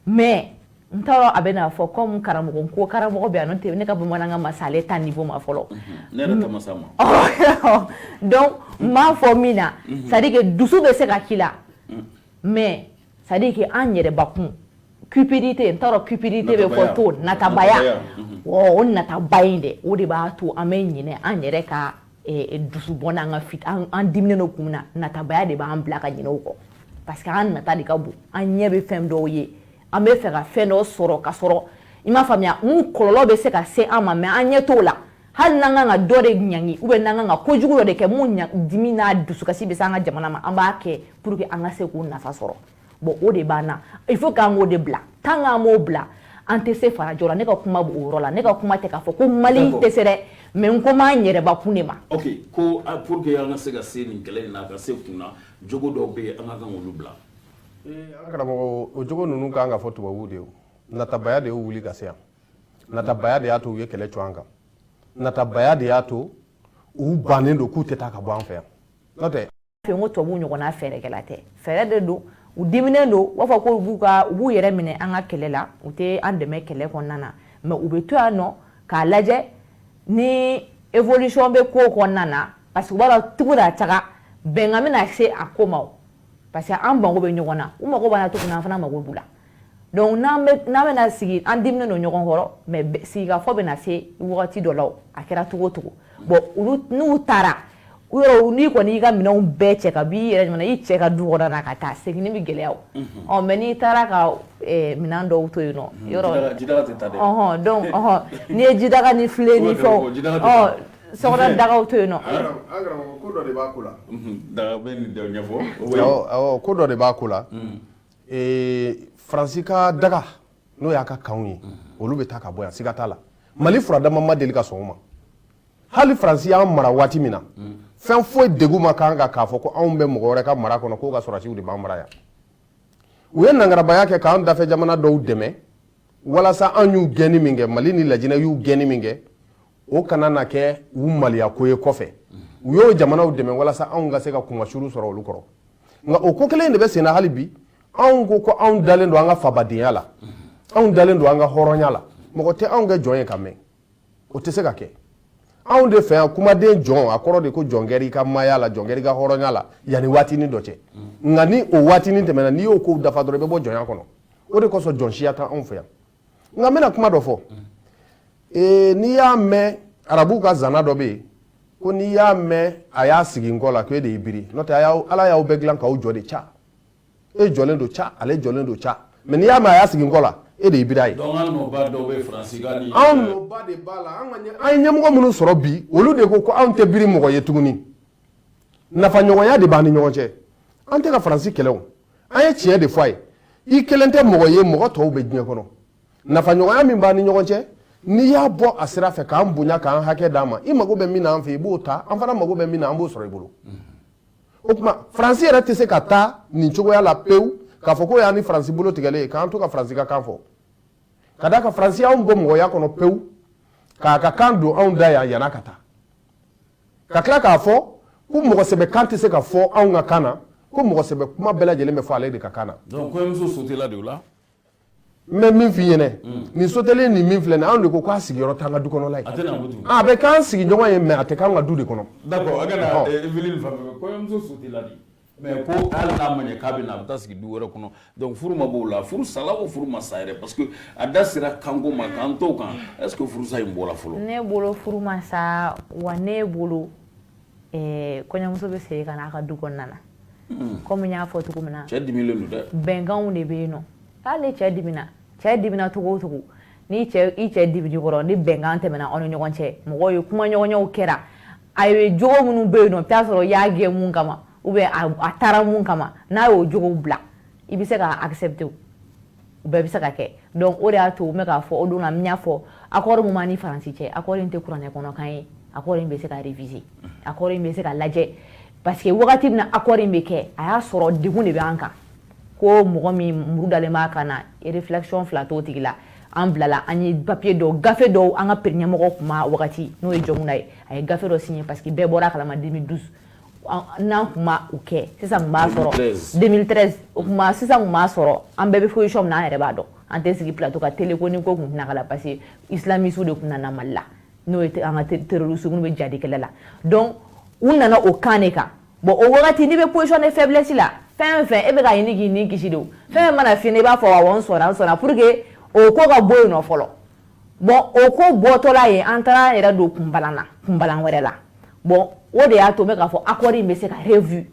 mais n t'a dɔn a bɛ n'a fɔ comme karamɔgɔ ko karamɔgɔ bɛ yan nɔ tɛ ne ka bamanankan ma se ale ta niveau ma fɔlɔ ne yɛrɛ ta ma s'a ma donc n b'a fɔ min na c'est à dire que dusu bɛ se ka k'i la mais c'est à dire que an yɛrɛbakun cupidité n t'a dɔn cupidité bɛ fɔ to natabaya o natabaya in dɛ o de b'a to an bɛ ɲinɛ an yɛrɛ ka dusubɔ n'an ka fit an diminen don kun na natabaya de b'an bila ka ɲinɛ o kɔ parce que an nata de ka bon an ɲɛ bɛ fɛn dɔw ye an b'a fɛ ka fɛn dɔw sɔrɔ ka sɔrɔ i m'a faamuya mun kɔlɔlɔ bɛ se ka se an ma mais an ɲɛ t'o la hali n'an kan ka dɔ de ɲangi ou bien n'an kan ka kojugu dɔ de kɛ min dimi n'a dusukasi bɛ se an ka jamana ma an b'a kɛ pour que an ka se k'u nafa sɔrɔ bon o de b'an na il faut k'an k'o de bila tant k'an m'o bila an tɛ se farajɔ la ne ka kuma b'o yɔrɔ la ne ka kuma tɛ k'a fɔ ko mali tɛ se dɛ mais n ko m'an yɛrɛbakun de ma ok ko ah, pour que an ka se ka se nin kɛlɛ in na a ka se kunna jogo dɔw bɛ yen an ka kan k'olu bila an karamɔgɔ o jogo ninnu ka kan ka fɔ tubabuw de ye natabaya de y'u wuli ka se yan natabaya de y'a to u ye kɛlɛ cun an kan natabaya de y'a to u bannen don k'u tɛ taa ka bɔ an fɛ yan n'o tɛ fɛ ko tubabu ɲɔgɔnna fɛɛrɛkɛla tɛ fɛɛrɛ de don u diminen don u b'a fɔ ko b'u ka u b'u yɛrɛ minɛ an ka kɛlɛ la u tɛ an dɛmɛ kɛlɛ kɔnɔna na mais u bɛ to yan nɔ k'a lajɛ ni évolution bɛ ko kɔnɔna na parce que u b'a dɔn tugu da taga bɛnkan bɛna se a ko ma parce que an mago bɛ ɲɔgɔn na u mago b'an na cogo min na an fana mago b'u la donc n'an bɛna sigi an diminen don ɲɔgɔn kɔrɔ mais sigikafɔ bɛna se wagati dɔ la a kɛra cogo cogo bon n'u taara n'i kɔni y'i ka minɛnw bɛɛ cɛ ka b'i yɛrɛ ɲɔgɔn i cɛ ka du kɔnɔ na ka taa segin bɛ gɛlɛya o mais n'i taara ka minɛn dɔw to yen n'i ye jidaga ni filen ni fɛn daga to yen ko dɔ de b'a ko la faransi ka daga n'o y'a ka kanw ye olu bɛ taa ka bɔ yan siga t'a la mali furadama ma deli ka sɔn o ma hali faransi y'an mara waati min na fɛn foyi degun ma k'an kan k'a fɔ ko anw bɛ mɔgɔ wɛrɛ ka mara kɔnɔ k'o ka sɔrɔsiw de b'an mara yan u ye nangarabaya kɛ k'an dafɛ jamana dɔw dɛmɛ walasa an y'u gɛnni min kɛ mali ni lajinɛ y'u gɛnni min kɛ o kana na kɛ u maloya ko ye kɔfɛ u y'o jamanaw dɛmɛ walasa anw ka se ka kunmasuli sɔrɔ olu kɔrɔ nka o ko kelen de bɛ senna hali bi anw ko ko anw dalen don an ka fabadenya la anw dalen don an ka hɔrɔnya la mɔgɔ tɛ anw kɛ jɔn ye ka mɛn o tɛ se ka kɛ anw de fɛ yan kumaden jɔn a kɔrɔ de ko jɔ n kɔrɔ i ka maaya la jɔ n kɔrɔ i ka hɔrɔnya la yanni waatinin dɔ cɛ nka ni o waatinin tɛmɛna n'i y'o kow dafa dɔrɔn i bɛ bɔ jɔnya kɔnɔ o de kosɔn jɔn siya tɛ anw fɛ yan nka n bɛna kuma dɔ fɔ ee n'i y'a mɛn arabuw ka zana dɔ bɛ yen ko n'i y'a mɛn a y'a sigi n kɔ la ko e de y'i biri n'o tɛ ala y'aw bɛɛ dilan k'aw jɔ de ca e jɔlen don ca ale jɔlen don ca mais n'i y'a mɛn a y'a sigi n kɔ la e de y'i biri a ye anw nɔba de b'a la an ye ɲɛmɔgɔ minnu sɔrɔ bi olu de ko ko anw tɛ biri mɔgɔ ye tuguni nafaɲɔgɔnya de b'an ni ɲɔgɔn cɛ an tɛ ka faransi kɛlɛ o an ye tiɲɛ de fɔ a ye i kelen tɛ mɔgɔ ye mɔgɔ tɔw bɛ diɲɛ kɔnɔ nafaɲɔgɔnya min b'an ni ɲɔgɔn cɛ n'i y'a bɔ a sira fɛ k'an bonya k'an hakɛ d'an ma i mago bɛ min na an fɛ i b'o ta an fana mago bɛ min na an b'o sɔrɔ i bolo o tuma faransi yɛrɛ tɛ se ka taa nin cogoya la pewu k'a fɔ k'o y'an ni faransi bolo tigɛlen ye k'an to ka faransi ka kan fɔ ka d'a kan faransi y'anw bɔ mɔgɔya kɔnɔ pewu k'a ka kan don anw da yan yann'a ka taa ka tila k'a fɔ ko mɔgɔsɛbɛ kan tɛ se ka fɔ anw ka kan na ko mɔgɔsɛbɛ kuma bɛɛ lajɛlen bɛ fɔ ale de ka kan na donc kɔɲɔmuso sotela de o la n bɛ min f'i ɲɛna nin sotelen nin min filɛ nin anw de ko k'a sigiyɔrɔ t'an ka du kɔnɔla ye a tɛna ko tuguni a bɛ k'an sigiɲɔgɔn ye mais a tɛ k'an ka du de kɔnɔ d'accord a kana Ɔhɔn. Evelyne fan fɛ kɔɲɔmuso sotela de mais ko hali n'a ma ɲɛ k'a bɛ na a bɛ taa sigi du wɛrɛ kɔnɔ donc furu ma b'o la furu sala o furu ma sa yɛrɛ parce que a da sera kanko ma k'an t'o kan est ce que furusa in bɔra fɔlɔ ne bolo furu ma sa wa ne bolo eh, kɔɲɔmuso bɛ segin ka n'a ka du kɔnɔna na hmm. komi n y'a fɔ cogo min na cɛ dimilen don dɛ bɛnkanw de bɛ yen nɔ hali cɛ dimina cɛ dimina cogo o cogo ni cɛ i cɛ diminen kɔrɔ ni bɛnkan tɛmɛna aw ni ɲɔgɔn cɛ mɔgɔw ye kumaɲɔgɔnyaw kɛra a ye jogo minnu bɛ yen nɔ i t'a sɔrɔ i y'a gɛn mun kama ou bien a taara mun kama n'a y'o jogow bila i bɛ se k'a accepter o bɛɛ bɛ se ka kɛ donc o de y'a to n bɛ k'a fɔ o don na n y'a fɔ accord min b'an ni Faransi cɛ accord in tɛ kuranɛ kɔnɔkan ye accord in bɛ se ka réviser accord in bɛ se ka lajɛ parce que wagati min na accord in bɛ kɛ a y'a sɔrɔ degun de bɛ an kan ko mɔgɔ min muru dalen b'a kan na réflexion fila t'o tigi la an bilala an ye papier dɔw gafe dɔw an ka pere ɲɛmɔgɔ tun ma wagati n'o ye Jɔnkunda ye a ye gafe dɔ signé parce que bɛɛ bɔra a kalama 2012 n'an tun ma o kɛ sisan tun b'a sɔrɔ 2013 o tuma sisan tun b'a sɔrɔ an bɛɛ bɛ position min na an yɛrɛ b'a dɔn an tɛ sigi plateau ka télé ko nin ko tun tɛna k'a la parce que islamisiw de tun nana Mali la n'o ye an ka terroriste minnu bɛ jadikɛlɛ la donc u nana o kan de kan bon o wagati n'i bɛ position de faiblesse la fɛn fɛn e bɛ ka ɲini k'i ni kisi de o fɛn fɛn mana f'i ɲɛna i b'a fɔ awɔ n sɔnna n sɔnna pour que o ko ka bɔ yen nɔ fɔlɔ bon o ko bɔtɔla yen an taara an yɛrɛ don kunbalan na kunbalan wɛrɛ la bon o de y'a to n bɛ k'a fɔ accord in bɛ se ka revue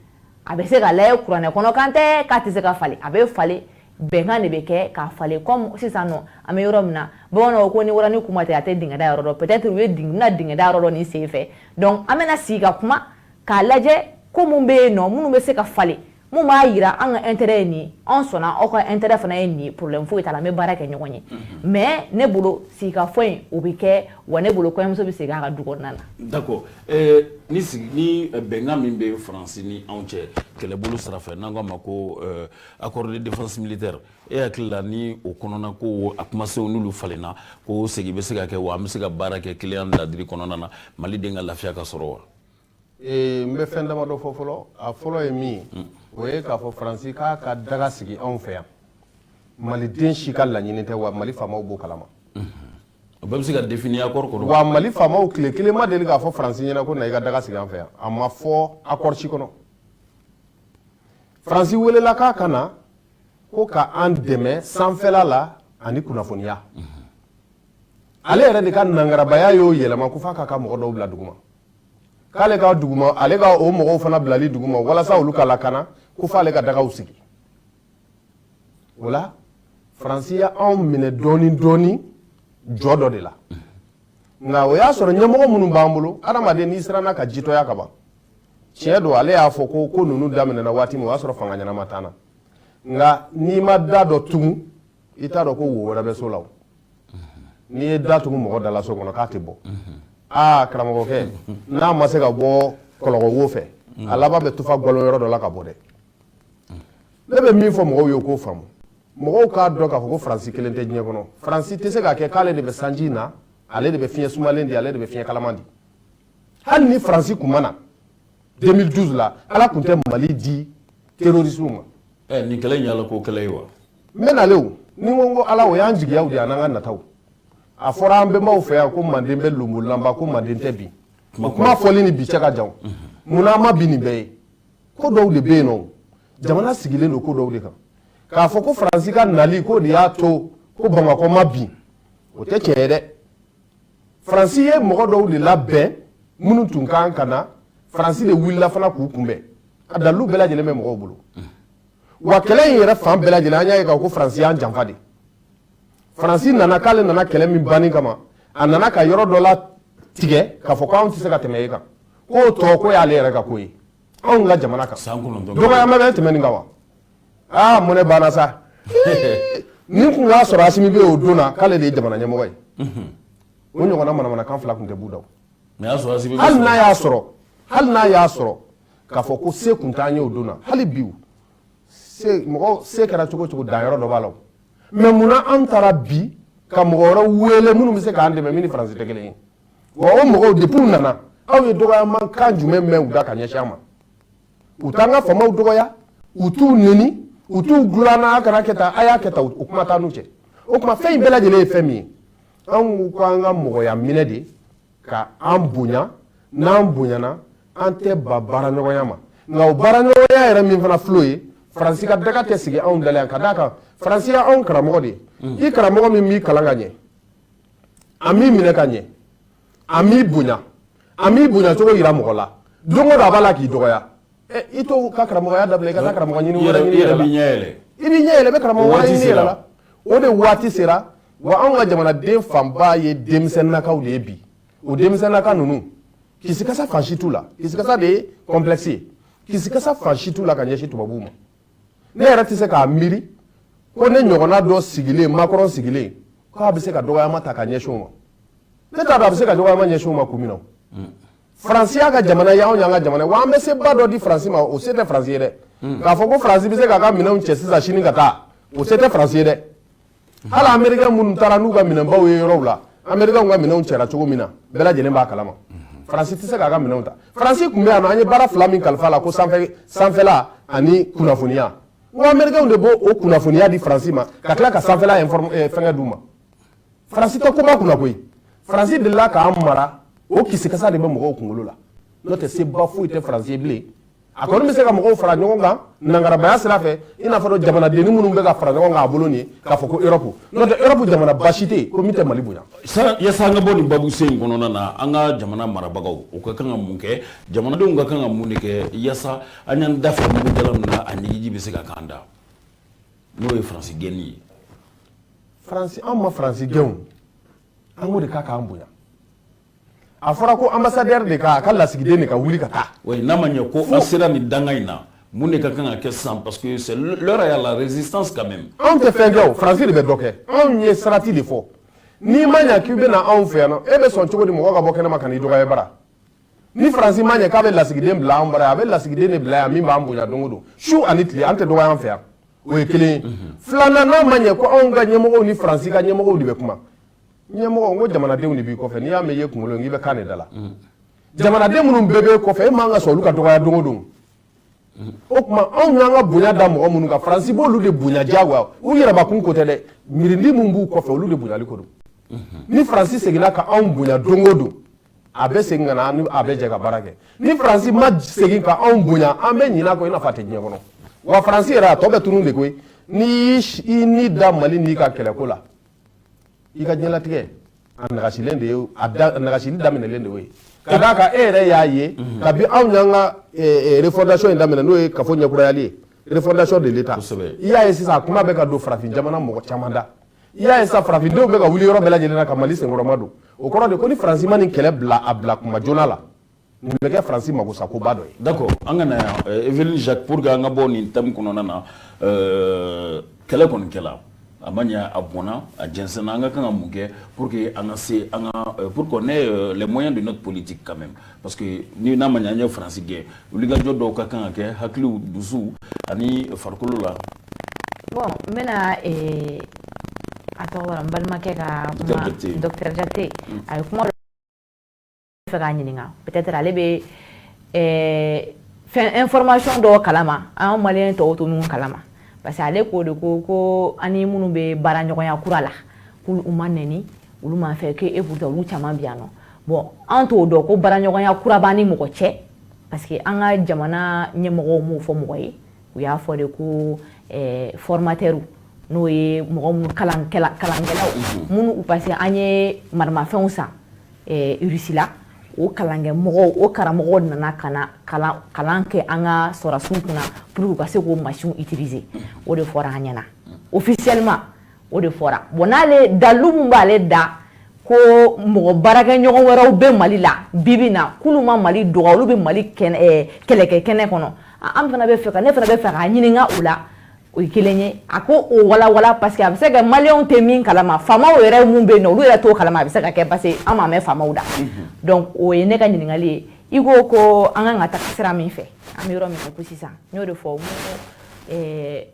a bɛ se ka lajɛ kuranɛ kɔnɔ kan tɛ k'a tɛ se ka falen a bɛ falen bɛnkan de bɛ kɛ k'a falen comme sisan nɔ an bɛ yɔrɔ min na bamananw ko ni waranin kun ma ci a tɛ dingɛ da yɔrɔ dɔn peut-être u ye bɛna dingɛ da yɔrɔ dɔn nin sen fɛ donc an bɛna sigi ka kuma k'a lajɛ ko mun bɛ yen nɔ minnu bɛ se ka falen mun b'a yira an ka intérêt ye nin ye an sɔnna aw ka intérêt fana ye nin ye problème foyi t'a la an bɛ baara kɛ ɲɔgɔn ye mais ne bolo sigikafɔ in o bɛ kɛ wa ne bolo kɔɲɔmuso bɛ segin a ka du kɔnɔna na. d'accord ɛɛ ni sigi ni bɛnkan min bɛ Faransi ni anw cɛ kɛlɛbolo sira fɛ n'an k'a ma ko euh, accord de défense militaire e hakili la ni o kɔnɔna ko a kumasenw n'olu falenna ko segin bɛ se ka kɛ wa an bɛ se ka baara kɛ kelenya ladiri kɔnɔna na Maliden ka lafiya ka sɔrɔ wa. n bɛ fɛn damadɔ fɔ fɔlɔ a fɔlɔ ye min ye mm. o ye k'a fɔ faransi k'a ka daga sigi anw fɛ yan maliden si ka laɲini tɛ wa mali faamaw b'o kalama mm-hmm. o bɛɛ bɛ se ka définir accord kɔnɔ wa mali faamaw tile kelen ma deli k'a fɔ faransi ɲɛna ko na i ka daga sigi an fɛ yan a ma fɔ accord si kɔnɔ faransi welela k'a ka na ko ka an dɛmɛ sanfɛla la ani kunnafoniya mm-hmm. ale yɛrɛ de ka nangarabaya y'o yɛlɛma ko f'a k'a ka mɔgɔ dɔw bila duguma k'ale ka duguma ale ka o mɔgɔw fana bilali duguma walasa olu ka lakana ko f'ale ka dagaw sigi o la faransi ye anw minɛ dɔɔnin dɔɔnin jɔ dɔ de la nka o y'a sɔrɔ ɲɛmɔgɔ minnu b'an bolo adamaden n'i siranna ka jitɔya ka ban tiɲɛ don ale y'a fɔ ko ko ninnu daminɛna waati min o y'a sɔrɔ fanga ɲɛnama t'an na nka n'i ma da dɔ tugun i t'a dɔn ko wo wɛrɛ bɛ so la n'i ye da tugu mɔgɔ da la so kɔnɔ k'a tɛ bɔ aa karamɔgɔkɛ n'a ma se ka bɔ kɔlɔkɔ wo fɛ a laban bɛ tufa galo yɔrɔ dɔ la ka bɔ dɛ ne bɛ min fɔ mɔgɔw ye k'o faamu mɔgɔw k'a dɔn k'a fɔ ko faransi kelen tɛ diɲɛ kɔnɔ faransi tɛ se k'a kɛ k'ale de bɛ sanji na ale de bɛ fiɲɛ sumalen di ale de bɛ fiɲɛ kalaman di hali ni faransi tun ma na 2012 la ala tun tɛ mali di terorisiw ma nin kɛlɛ in y'ala ko kɛlɛ ye wa n bɛ nale o ni n ko n ko ala o y'an jigiyaw de ye an'an ka nataw a fɔra an bɛnbaw fɛ yan ko manden bɛ lonbolanba ko manden tɛ bin o kuma fɔli ni bi cɛ ka jan munna an ma bin nin bɛɛ ye ko dɔw de bɛ yen nɔ jamana sigilen don ko dɔw de kan k'a fɔ ko faransi ka nali ko de y'a to ko bamakɔ ma bin o tɛ tiɲɛ ye dɛ faransi ye mɔgɔ dɔw de labɛn minnu tun kan ka na faransi de wulila fana k'u kunbɛn a dalilu bɛɛ lajɛlen bɛ mɔgɔw bolo wa kɛlɛ in yɛrɛ fan bɛɛ lajɛlen an y'a ye k'a fɔ ko faransi y'an janfa de faransi nana k'ale nana kɛlɛ min banni kama a nana ka yɔrɔ dɔ la tigɛ k'a fɔ ko anw tɛ se ka tɛmɛ yen kan k'o tɔ ko y'ale yɛrɛ ka ko ye anw ka jamana kan dɔgɔya bɛ tɛmɛ nin kan wa aa mɔnɛ banna sa ni tun y'a sɔrɔ asimi bɛ o don na k'ale de ye jamana ɲɛmɔgɔ ye o ɲɔgɔnna manamanakan fila tun tɛ b'u da hali n'a y'a sɔrɔ hali n'a y'a sɔrɔ k'a fɔ ko se kun t'an ye o don na hali bi mɔgɔ se kɛra cogo cogo danyɔrɔ dɔ b'a la mais munna an taara bi ka mɔgɔ wɛrɛ wele minnu bɛ se k'an dɛmɛ min ni faransi tɛ kelen ye wa o mɔgɔw depuis u nana aw ye dɔgɔyama kan jumɛn mɛn u da ka ɲɛsin an ma u t'an ka famaw dɔgɔya u t'u neni u t'u gulana a kana kɛ tan a y'a kɛ tan o kuma t'an n'u cɛ o tuma fɛn in bɛɛ lajɛlen ye fɛn min ye anw ko an ka mɔgɔya minɛ de ka an bonya n'an bonyana an tɛ ba baaraɲɔgɔnya ma nka o baaraɲɔgɔnya yɛrɛ min fana filɛ o ye faransi ka daga tɛ sigi anw dala yan ka d'a kan faransi ye anw karamɔgɔ de ye mm. i karamɔgɔ min m'i kalan ka ɲɛ a m'i minɛ ka ɲɛ a m'i bonya a m'i bonya cogo yira mɔgɔ la don o don a b'a la k'i dɔgɔya i t'o ka karamɔgɔya dabila i ka taa karamɔgɔ ɲini wɛrɛ ɲini yɛrɛ la i b'i ɲɛ yɛlɛ i bɛ karamɔgɔ wɛrɛ ɲini yɛrɛ la o de waati sera wa anw ka jamanaden fanba ye denmisɛnnakaw de ye bi o denmisɛnnaka ninnu kisikasa fan si t'u la kisikasa de ye complexe ye kisikasa fan si t'u la ka ɲɛsin tubabuw ma ne yɛrɛ tɛ se k'a miiri ko ne ɲɔgɔnna dɔ sigilen macron sigilen k'a bɛ se ka dɔgɔyama ta ka ɲɛsin o ma ne t'a dɔn a bɛ se ka dɔgɔyama ɲɛsin o ma kun min na faransi y'a ka jamana ye anw y'an ka jamana ye wa an bɛ seba dɔ di faransi ma o se tɛ faransi ye dɛ k'a fɔ ko faransi bɛ se k'a ka minɛnw cɛ sisan sini ka taa o se tɛ faransi ye dɛ hali américain minnu taara n'u ka minɛnbaw ye yɔrɔw la américain ka minɛnw cɛra cogo min na bɛɛ lajɛlen b'a kalama faransi tɛ se k'a ka minɛnw ta faransi tun bɛ yan an ye baara fila min kalif'a la ko sanfɛla ani kunnafoniya n ko américainw de b'o o kunnafoniya di faransi ma ka tila ka sanfɛla eh, fɛnkɛ d'u ma faransi tɛ koba kunna koyi faransi delila k'an mara o kisikasa de bɛ mɔgɔw kunkolo la n'o tɛ seba foyi tɛ faransi ye bilen a kɔni bɛ se ka mɔgɔw fara ɲɔgɔn kan nangarabaya sira fɛ i n'a fɔ jamanadennin minnu bɛ ka fara ɲɔgɔn kan a bolo nin k'a fɔ ko europe n'o tɛ europe jamanaba si tɛ yen ko min tɛ mali bonya yasa an ka bɔ nin babusen in kɔnɔna na an ka jamana marabagaw u ka kan ka mun kɛ jamanadenw ka kan ka mun de kɛ yasa an y'an da fa mugu jalan min na a ɲiginji bɛ se ka k'an da n'o ye faransi gɛnni ye faransi anw ma faransi gɛn an ko de k'a k'an bonya a fɔra ko ambassadeur de ka a ka lasigiden de ka wuli ka taa n'a ma ɲɛ ko an sera nin danga in na mun de ka kan ka kɛ sisan parce que c'est l'heure à la résistance quand même anw tɛ fɛn kɛ o faransi de bɛ dɔ kɛ anw ye sarati de fɔ n'i ma ɲɛ k'i bɛ na anw fɛ yan nɔ e bɛ sɔn cogo di mɔgɔ ka bɔ kɛnɛma ka n'i dɔgɔya bara ni faransi ma ɲɛ k'a bɛ lasigiden bila an bara a bɛ lasigiden de bila yan min b'an bonya don o don su ani tile an tɛ dɔgɔya an fɛ yan O ye kelen ye filanan n'a ma ɲɛ ko anw ka ɲɛmɔgɔw ni faransi ka ɲɛmɔgɔw de bɛ kuma ɲɛmɔgɔ ko jamanadenw de b'i kɔfɛ n'i y'a mɛn i ye kunkolo k'i bɛ kan de da la jamanaden minnu bɛɛ b'e kɔfɛ e man ka sɔn olu ka dɔgɔya don o don o tuma anw y'an ka bonya da mɔgɔ minnu kan faransi b'olu de bonya diyagoya u yɛrɛbakun ko tɛ dɛ miirindi minnu b'u kɔfɛ olu de bonyali ko don ni faransi seginna ka anw bonya don o don a bɛ segin ka na a bɛ jɛ ka baara kɛ ni faransi ma segin ka anw bonya an bɛ ɲinɛ kɔ i n'a fɔ a tɛ diɲɛ kɔnɔ wa faransi yɛrɛ a tɔ bɛ tunun de koyi n'i y'i ni da mali n'i ka kɛlɛko la i ka diɲɛlatigɛ a nagasilen de ye a nagasili daminɛlen de ye ka d'a kan e yɛrɛ y'a ye mhm. kabi anw y'an ka e, e, refondation in daminɛ n'o ye kafo ɲɛkurayali ye refondation de l'État i y'a ye sisan a kuma bɛ ka don farafin jamana mɔgɔ caman da i y'a ye sa farafindenw bɛ ka wuli yɔrɔ bɛɛ lajɛlen na ka mali senkɔrɔma don o kɔrɔ de ko ni faransi ma nin kɛlɛ bila a bila kuma joona la nin bɛ kɛ faransi magosakoba dɔ ye d'accord an ka na yan eh, evelyne jacques pour que an ka bɔ nin thème kɔnɔna na eh, kɛlɛ kɔni kɛla a ma ɲɛ a bɔnna a jɛnsɛnna an ka kan ka mun kɛ pour que an ka se an ka eh, pour qu'on ait les moyens de notre politique quand même parce que ni n'a ma ɲɛ an ye faransi gɛn wulikajɔ dɔw ka kan ka kɛ hakiliw dusuw ani farikolo la bon n bɛna eh, a tɔgɔ bɔra n balimakɛ ka kuma docteur jakite mm. a ye kuma dɔ fɔ k'a ɲininka peut-être ale bɛ eh, fɛn information dɔw kalama an maliyɛn tɔw tɛ minnu kalama parce que ale k'o de ko ko an ni minnu bɛ baaraɲɔgɔnya kura la k'u m'an nɛni olu ma fɛn kɛ pourtant olu caman bɛ yan nɔ bon an t'o dɔn ko baraɲɔgɔnya kura b'an ni mɔgɔ cɛ parce que an ka jamana ɲɛmɔgɔw m'o fɔ mɔgɔ ye u y'a fɔ de ko eh, formatɛriw n'o ye mɔgɔ minnu kalankɛlaw mhm. minnu parce que an ye maramafɛnw san eh, rusi la o kalankɛ mɔgɔw o karamɔgɔw nana ka na kalan kɛ an ka sɔrɔdasiw kunna pour que u ka se k'o mansinw utiliser o de fɔra an ɲɛna officiellement o de fɔra bon n'ale dalu min b'ale da ko mɔgɔ baarakɛɲɔgɔn wɛrɛw bɛ mali la bi bi in na k'olu ma mali dɔgɔ olu bɛ mali eh, kɛlɛkɛ kɛnɛ kɔnɔ an fana bɛ fɛ ne fana bɛ fɛ k'a ɲininka u la o ye kelen ye a k'o walawala parce que a bɛ se ka maliyɛnw tɛ min kalama faamaw yɛrɛ mun bɛ yen nɔ olu yɛrɛ t'o kalama a bɛ se ka kɛ parce que an m'a mɛn faamaw da mhm. donc o ye ne ka ɲininkali ye i ko ko an kan ka taga sira min fɛ an bɛ yɔrɔ min na ko sisan n y'o de fɔ eh,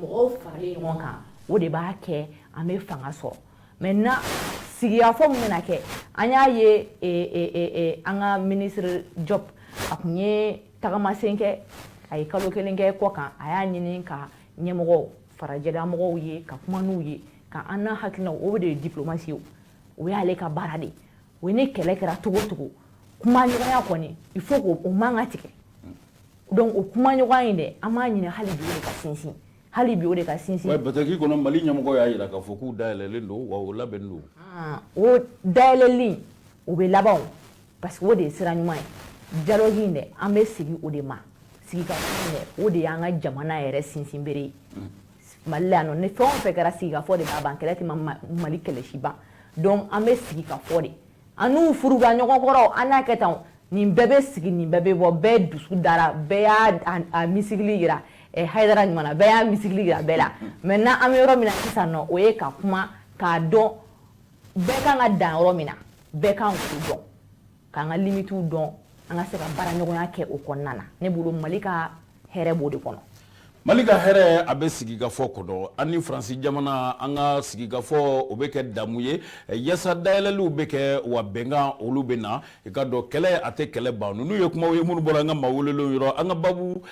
mɔgɔw faralen ɲɔgɔn kan o de b'a kɛ an bɛ fanga sɔrɔ maintenant sigikafɔ min bɛna kɛ an y'a ye e, e, e, an ka minisiri jɔp a tun ye tagamasen kɛ a ye kalo kelen kɛ kɔkan a y'a ɲini ka ɲɛmɔgɔ farajɛlamɔgɔw ye ka kuma n'u ye ka an n'a hakilinaw o de ye diplomasi ye o y'ale ka baara de ye o ye ni kɛlɛ kɛra cogo o cogo kumaɲɔgɔnya kɔni il faut k'o man ka tigɛ donc o kumaɲɔgɔnya in de an b'a ɲini hali bi o de ka sinsin hali bi o de ka sinsin bataki kɔnɔ mali ɲɛmɔgɔ y'a jira k'a fɔ k'u dayɛlɛlen don wa u labɛnnen don ah, o dayɛlɛli o bɛ laban parce que o de ye sira ɲuman ye dialogue in de an bɛ sigi o de ma sigikafɔ de o de y'an ka jamana yɛrɛ sinsinbere ye mali la yan nɔ ni fɛn o fɛn kɛra sigikafɔ de b'a ban kɛlɛ tɛ mali kɛlɛ si ban donc an bɛ sigikafɔ de An n'u furuba ɲɔgɔn kɔrɔ an n'a kɛ tan nin bɛɛ bɛ sigi nin bɛɛ bɛ bɔ bɛɛ dusu dara bɛɛ y'a misigili jira hara ɲuman bɛɛ y'a misigili jira bɛɛ la maintenant an bɛ yɔrɔ min na sisan nɔ o ye ka kuma k'a dɔn bɛɛ kan ka dan yɔrɔ min na bɛɛ kan k'o dɔn k'an ka limitiw dɔn an ka se ka baara ɲɔgɔnya kɛ o kɔnɔna na ne bolo mali ka hɛrɛ b'o de kɔnɔ mali ka hɛrɛ a bɛ sigikafɔ kɔnɔ an ni faransi jamana an ka sigikafɔ o bɛ kɛ damu ye yaasa dayɛlɛliw bɛ kɛ wa bɛnkan olu bɛ na i k'a dɔn kɛlɛ a tɛ kɛlɛ ban ninnu ye kumaw ye minnu bɔra an ka maa welelenw yɔrɔ an ka babu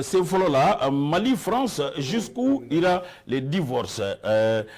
sen fɔlɔ la mali france jusqu'où ira le divorce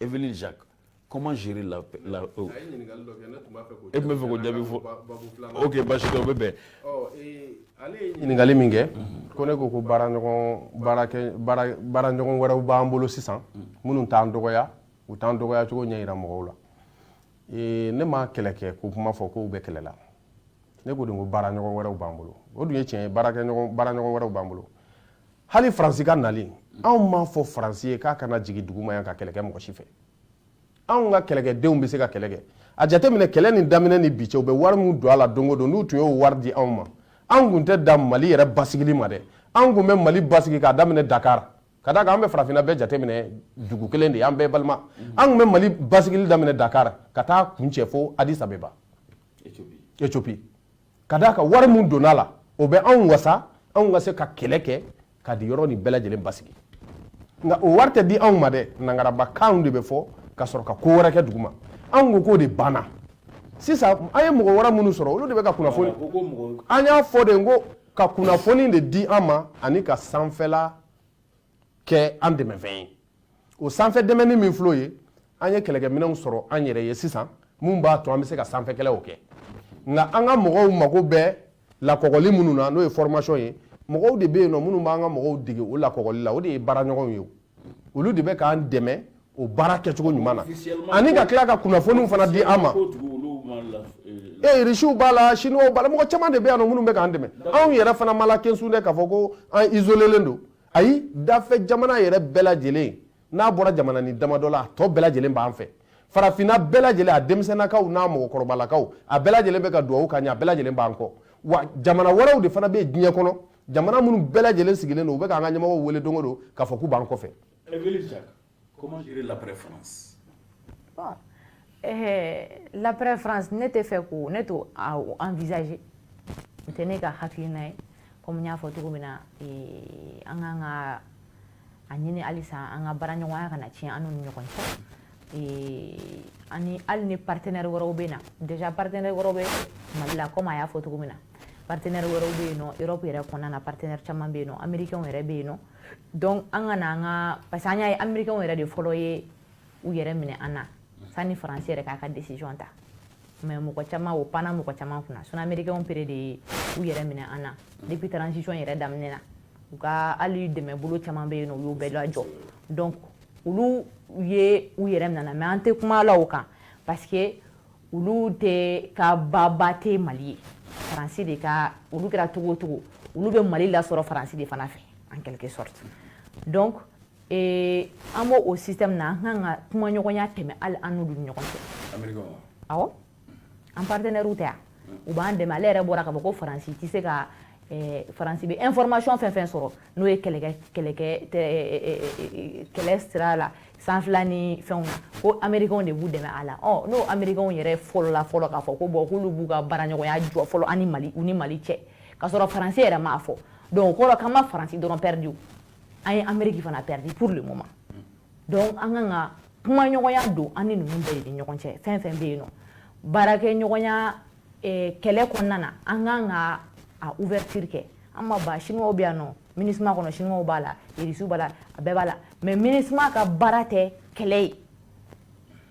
E comment gérer la e bɛ fɛ k'o jaabi fɔ ok basi dɔ bɛ bɛn ale ɲininkali min kɛ ko ne ko ko baara ɲɔgɔn wɛrɛw b'an bolo sisan minnu t'an dɔgɔya u t'an dɔgɔya cogo ɲɛ jira mɔgɔw la ne ma kɛlɛ kɛ ko kuma fɔ k'u bɛ kɛlɛ la ne ko de ko baara ɲɔgɔn wɛrɛw b'an bolo o dun ye tiɲɛ ye baara ɲɔgɔn wɛrɛw b'an bolo hali faransi ka nali anw m'a fɔ faransi ye k'a kana jigin duguma yan ka kɛlɛ kɛ mɔgɔ si fɛ anw ka kɛlɛkɛdenw bɛ se ka kɛlɛ kɛ a jateminɛ kɛlɛ nin daminɛ ni bi cɛ u bɛ wari min don a la don o don n'u tun y'o wari di anw ma an kun tɛ da mali yɛrɛ basigili ma dɛ an kun bɛ mali basigi k'a daminɛ dakar ka d'a kan an bɛ farafinna bɛɛ jateminɛ dugu kelen de ye an bɛɛ balima an kun bɛ mali basigili daminɛ dakar ka taa kuncɛ fo addis abeba éthiopie ka d'a kan wari min donn'a la o bɛ anw wasa anw ka se ka kɛlɛ kɛ ka di yɔrɔ nin bɛɛ lajɛlen basigi nka o wari tɛ di anw ma dɛ nangarabakanw de bɛ fɔ ka sɔrɔ ka ko wɛrɛ kɛ duguma anw ko k'o de banna sisan an ye mɔgɔ wɛrɛ minnu sɔrɔ olu de bɛ ka kunnafoni an y'a fɔ de ko ka kunnafoni de di an ma ani ka sanfɛla kɛ an dɛmɛfɛn ye o sanfɛ dɛmɛni min filɛ o ye an ye kɛlɛkɛminɛnw sɔrɔ an yɛrɛ ye sisan min b'a to an bɛ se ka sanfɛkɛlɛw kɛ nka an ka mɔgɔw mago bɛ lakɔgɔli minnu na n'o ye formation ye mɔgɔw de bɛ yen nɔ minnu b'an ka mɔgɔw dege o lakɔgɔli la o de ye baaraɲɔgɔnw ye olu de bɛ k'an dɛmɛ o baara kɛcogo ɲuman na ani ka tila ka kunnafoniw fana di an ma ee irisiw b'a la siniwaw b'a la mɔgɔ caman de bɛ yan nɔ minnu bɛ k'an dɛmɛ anw yɛrɛ fana ma la kensun dɛ k'a fɔ ko an isolelen don ayi dafɛ jamana yɛrɛ bɛɛ lajɛlen n'a bɔra jamana ni damadɔ la a tɔ bɛɛ lajɛlen b'an fɛ farafinna bɛɛ lajɛlen a denmisɛnnakaw n'a mɔgɔkɔrɔbalakaw a bɛɛ lajɛlen bɛ ka duwawu k'an ye a bɛɛ lajɛlen b'an kɔ wa jamana wɛrɛw de fana bɛ diɲɛ kɔnɔ jamana minnu bɛɛ lajɛlen sigilen don u bɛ k'an ka ɲɛmɔgɔw wele don o don k'a fɔ k'u b'an kɔfɛ L'après-France ne tɛ fɛ ko ne t'o envisager n tɛ ne ka hakilina ye kɔmi n y'a fɔ cogo min na an kan ka a ɲini halisa an ka baaraɲɔgɔnya kana tiɲɛ an n'u ni ɲɔgɔn cɛ ani hali ni partenaire wɛrɛw bɛ na déjà partenaire wɛrɛw bɛ mali la kɔmi a y'a fɔ cogo min na partenaire wɛrɛw bɛ yen nɔ Europe yɛrɛ kɔnɔna na partenaire caman bɛ yen nɔ amerikɛnw yɛrɛ bɛ yen nɔ donc an ka na an ka parce que an y'a ye amerikɛnw yɛrɛ de fɔlɔ ye u yɛrɛ minɛ an na sanni faransi yɛrɛ k'a ka decision ta mais mɔgɔ caman o panna mɔgɔ caman kunna sinon amerikɛnw pere de ye u yɛrɛ minɛ an na depuis transition yɛrɛ daminɛ na u ka hali dɛmɛbolo caman bɛ yen nɔ u y'o bɛɛ lajɔ donc olu ye u yɛrɛ minɛ na mais an tɛ kuma la o kan parce que olu tɛ ka baba tɛ mali ye faransi de ka olu kɛra cogo o cogo olu bɛ mali lasɔrɔ faransi de fana fɛ en quelque sorte donc eh, an b'o o système na an kan ka kumaɲɔgɔnya tɛmɛ hali an n'olu ni ɲɔgɔn cɛ awɔ an partenaires tɛ yan u b'an dɛmɛ ale yɛrɛ bɔra k'a fɔ ko faransi tɛ se ka eh, faransi bɛ information fɛn fɛn sɔrɔ n'o ye kɛlɛkɛ kɛlɛkɛ kɛlɛ sira la sanfɛla ni fɛnw na ko americains de b'u dɛmɛ a la ɔ n'o americains yɛrɛ fɔlɔla fɔlɔ k'a fɔ ko bon k'olu b'u ka baaraɲɔgɔnya jɔ fɔlɔ ani mali u ni mali cɛ k'a sɔrɔ faransi yɛrɛ m'a fɔ donc o kɔrɔ k'an ma faransi dɔrɔn perdu an ye ameriki fana perdu pour le moment donc an kan ka kumaɲɔgɔnya don an ni ninnu bɛɛ de ni ɲɔgɔn cɛ fɛn fɛn bɛ yen nɔ baarakɛɲɔgɔnya eh, kɛlɛ kɔnɔna na an kan ka a ouverture kɛ an ma ba chinois bɛ yan nɔ minisma kɔnɔ chinois b'a la irisiw b'a la a bɛɛ b'a la mais minisma ka baara tɛ kɛlɛ ye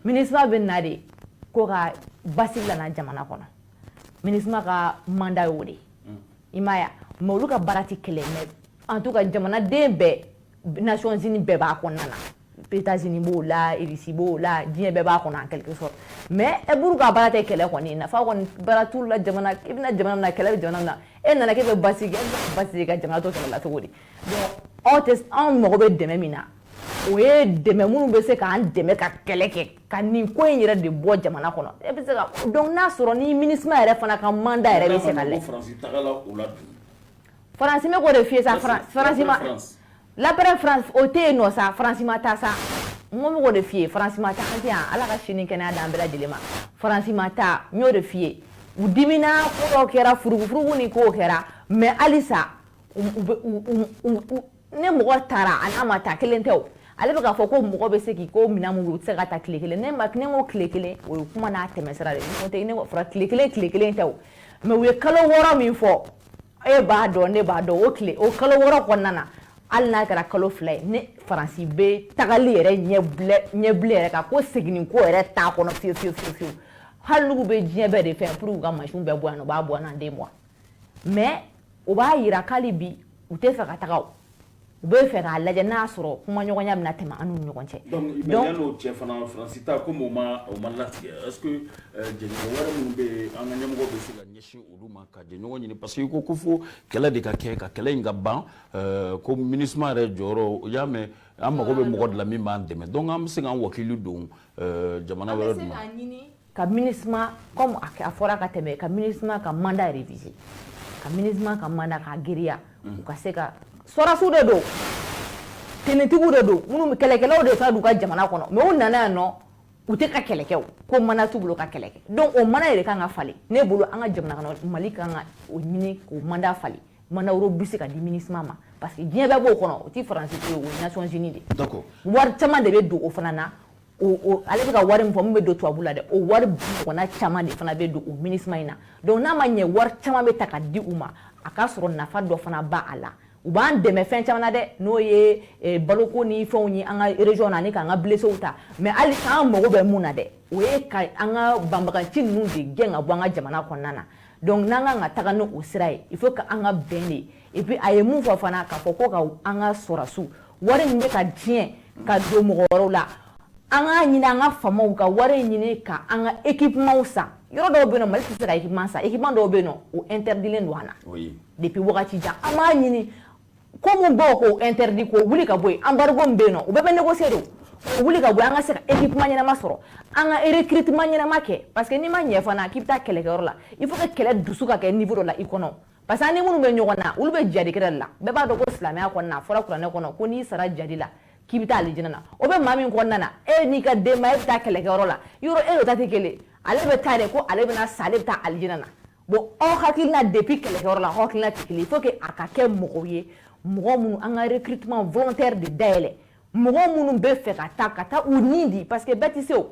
minisma bɛ na de ko ka basigi lana jamana kɔnɔ minisma ka mandat y'o de ye i m'a ye mais olu ka baara tɛ kɛlɛ mais en tout cas jamanaden bɛɛ Nations Unies bɛɛ b'a kɔnɔna na États-Unis b'o la Russie b'o la diɲɛ bɛɛ b'a kɔnɔ en quelque sorte mais e buru ka baara tɛ kɛlɛ kɔni nafa kɔni baara t'u la jamana i bɛna jamana min na kɛlɛ bɛ jamana min na e nana k'e bɛ basigi kɛ e bɛ basigi ka jamana to kɛlɛ la cogo di donc aw tɛ anw mago bɛ dɛmɛ min na o ye dɛmɛ minnu bɛ se k'an dɛmɛ ka kɛlɛ kɛ ka nin ko in yɛrɛ de bɔ jamana kɔnɔ e bɛ se ka donc n'a sɔrɔ ni minisma yɛrɛ fana ka mandat yɛrɛ bɛ se ka lɛ Faransi n bɛ k'o de f'i ye sa faransi ma l'après-France o tɛ yen nɔ sa faransi ma taa sa n ko n bɛ k'o de f'i ye faransi ma taa an tɛ yan ala ka sini kɛnɛya d'an bɛɛ lajɛlen ma faransi ma taa n y'o de f'i ye u dimina ko dɔw kɛra furugufurugu ni kow kɛra mais halisa u ne mɔgɔ taara a n'a ma taa kelen tɛ o ale bɛ k'a fɔ ko mɔgɔ bɛ se k'i ko minɛn mun u tɛ se ka taa tile kelen ne ma ne ko tile kelen o ye kuma n'a tɛmɛsira de ye n'o tɛ ne ko fɔra tile kelen tile kelen tɛ o mais u ye kalo wɔɔrɔ min fɔ e b'a dɔn ne b'a dɔn o tile o kalo wɔɔrɔ kɔnɔna na hali n'a kɛra kalo fila ye ni faransi bɛ tagali yɛrɛ ɲɛbilɛ ɲɛbilɛ yɛrɛ kan ko seginni ko yɛrɛ t'a kɔnɔ fiyewu fiyewu fiyewu hali n'u bɛ diɲɛ bɛɛ de fɛ pour que u ka mansinw bɛɛ bɔ yan nɔ u b'a bɔ yan en deux mois mais o b'a yira k'ali bi u tɛ fɛ ka taga u bɛ fɛ k'a lajɛ n'a sɔrɔ kumaɲɔgɔnya bɛna tɛmɛ an n'u ɲɔgɔn cɛ donc yann'o cɛ fana faransi ta komi o ma latigɛ est-ce que jɛɲɔgɔn wɛrɛ minnu bɛ an ka ɲɛmɔgɔ bɛ se ka ɲɛsin olu ma ka jɛɲɔgɔn ɲini parce que ko ko fo kɛlɛ de ka kɛ ka kɛlɛ in ka ban euh, ko MINUSMA yɛrɛ jɔyɔrɔ y'a mɛn an mago bɛ mɔgɔ de la min b'an dɛmɛ donc an bɛ se k'an wakili don euh, jamana wɛrɛ ma ka MINUSMA comme a fɔra ka tɛmɛ ka MINUSMA ka mandat réviser ka MINUSMA ka mandat k'a giriya u ka se ka sɔrɔdasiw de don tenitigiw de don minnu kɛlɛkɛlaw de fana don u ka jamana kɔnɔ mais u nana yan nɔ u tɛ ka kɛlɛ kɛ u ko mandat t'u bolo ka kɛlɛ kɛ donc o mandat yɛrɛ kan ka falen ne bolo an ka jamana kɔnɔ Mali kan ka o ɲini k'o mandat falen mandat wɛrɛw bɛ se ka di MINUSMA ma parce que diɲɛ bɛɛ b'o kɔnɔ o tɛ faransi ko ye o ye Nations Unies de ye d'accord wari caman de bɛ don o fana na ale bɛ ka wari min fɔ min bɛ don tubabu la dɛ o wari ɲɔgɔnna caman de fana bɛ don o MINUSMA in na donc n'a ma ɲɛ wari caman bɛ ta ka di u ma a ka sɔrɔ nafa dɔ fana b'a la u b'an dɛmɛ fɛn caman na dɛ n'o ye eh, baloko ni fɛnw ye an ka région na ani k'an ka blessés ta mais hali k'an mago bɛ mun na dɛ o ye ka an ka banbaganci ninnu de gɛn ka bɔ an ka jamana kɔnɔna na donc n'an kan ka taga n'o sira ye il faut que an ka bɛn de et puis a ye mun fɔ fana k'a fɔ ko ka an ka sɔrɔdasiw wari min bɛ ka diɲɛ ka don mɔgɔ wɛrɛw la an k'a ɲini an ka faamaw ka wari in ɲini ka an ka équipements san yɔrɔ dɔw bɛ yen nɔ Mali tɛ se ka équipement san équipement dɔw bɛ yen nɔ o interdilen don an na depuis wagati jan an b'a ɲini ko min b'o k'o interdit k'o wuli ka bɔ yen embargo min bɛ yen nɔ o bɛɛ bɛ négocier de o wuli ka bɔ an ka se ka équipement ɲɛnama sɔrɔ an ka recrutement ɲɛnama kɛ parce que n'i ma ɲɛ fana k'i bɛ taa kɛlɛkɛyɔrɔ la il faut que kɛlɛ dusu ka kɛ niveau dɔ la i kɔnɔ parce que an ni minnu bɛ ɲɔgɔn na olu bɛ jihadi kɛlɛ de la bɛɛ b'a dɔn ko silamɛya kɔnɔna a fɔra kuranɛ kɔnɔ ko n'i sara jihadi la k'i bɛ taa alijinɛ na o bɛ maa min kɔnɔna na e n'i ka denbaya bɛ taa kɛlɛkɛyɔrɔ la yɔrɔ e n'o ta tɛ kelen ale bɛ taa de ko ale bɛna sa ale bɛ taa alijinɛ na bon aw hakilina depuis kɛlɛkɛyɔrɔ la aw hakilina tɛ kelen il faut que a ka kɛ mɔgɔw ye mɔgɔ minnu an ka recrutement volontaire de dayɛlɛ mɔgɔ minnu bɛ fɛ ka taa ka taa u ni di parce que bɛɛ tɛ se o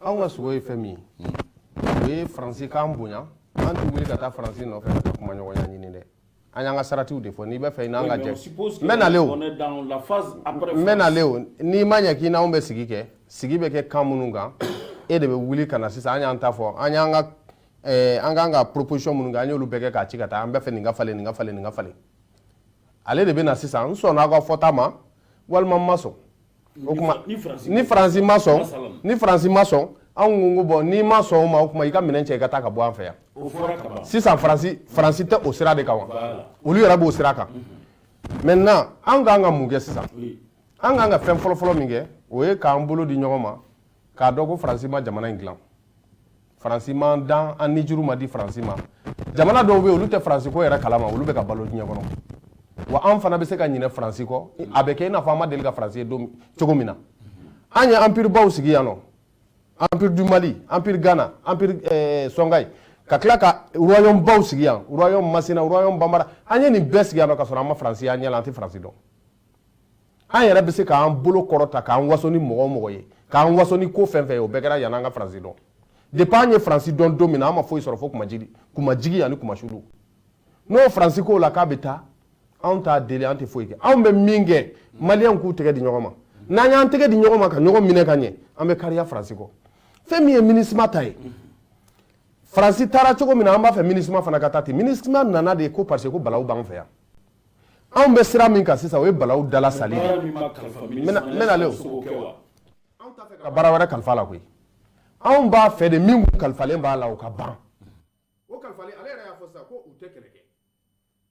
anw ka sago ye fɛn min ye o ye faransi k'an bonya an tɛ wuli ka taa faransi nɔfɛ ka taa kumaɲɔgɔnya ɲini dɛ an y'an ka saratiw de fɔ n'i b'a fɛ i n'an ka jɛ n bɛ nale o n bɛ nale o n'i ma ɲɛ k'i n'anw bɛ sigi kɛ sigi bɛ kɛ kan minnu kan e de bɛ wuli ka na sisan an y'an ta fɔ an y'an ka eh, an k'an ka proposition minnu kɛ an y'olu bɛɛ kɛ k'a ci ka taa an b'a fɛ nin ka falen nin ka falen nin ka falen ale de bɛ na sisan n sɔnna aw ka fɔta ma walima n ma sɔn O tuma ni faransi ma sɔn ni faransi ma sɔn anw ko bon n'i ma sɔn o ma o tuma i ka minɛn cɛ i ka taa ka bɔ an fɛ yan sisan faransi tɛ o sira de kan wa olu yɛrɛ b'o sira kan maintenant an kan ka mun kɛ sisan an kan ka fɛn fɔlɔfɔlɔ min kɛ o ye k'an bolo di ɲɔgɔn ma k'a dɔn ko faransi ma jamana in dilan faransi m'an dan an nijuru ma di faransi ma jamana dɔw bɛ yen olu tɛ faransi ko yɛrɛ kalama olu bɛ ka balo diɲɛ kɔnɔ wa an fana bɛ se ka ɲinɛ faransi kɔ a bɛ kɛ i n'a fɔ an ma deli ka faransi ye don cogo min na an ye empire baw sigi yan nɔ empire du mali empire ghana empire eh, sɔngayi ka tila ka royaume baw sigi yan royaume masina royaume bambara an ye nin bɛɛ sigi yan nɔ ka sɔrɔ an ma faransi y'an ɲɛ la an tɛ faransi dɔn an yɛrɛ bɛ se k'an bolo kɔrɔta k'an waso ni mɔgɔ o mɔgɔ ye k'an waso ni ko fɛn fɛn ye o bɛɛ kɛra yanni an ka faransi dɔn depuis an ye faransi dɔn don min na an ma foyi sɔrɔ fo kunmajigin kunmajigin ani kunmasuuli n'o faransi ko la k'a bɛ taa anw t'a deli an tɛ foyi kɛ anw bɛ min kɛ maliyɛnw k'u tɛgɛ di ɲɔgɔn ma n'an y'an tɛgɛ di ɲɔgɔn ma ka ɲɔgɔn minɛ ka ɲɛ an bɛ kariya faransi kɔ fɛn min ye minisima ta ye faransi taara cogo min na an b'a fɛ minisima fana ka taa ten minisima nana de ko parce que ko balawu b'an fɛ yan anw bɛ sira min kan sisan o ye balawu dalasali de ye n bɛ nale o anw t'a fɛ ka baara wɛrɛ kalif'a la koyi anw b'a fɛ de min kun kalifalen b'a la o ka ban o kalifalen ale yɛrɛ y'a fɔ sisan ko u tɛ kɛlɛ kɛ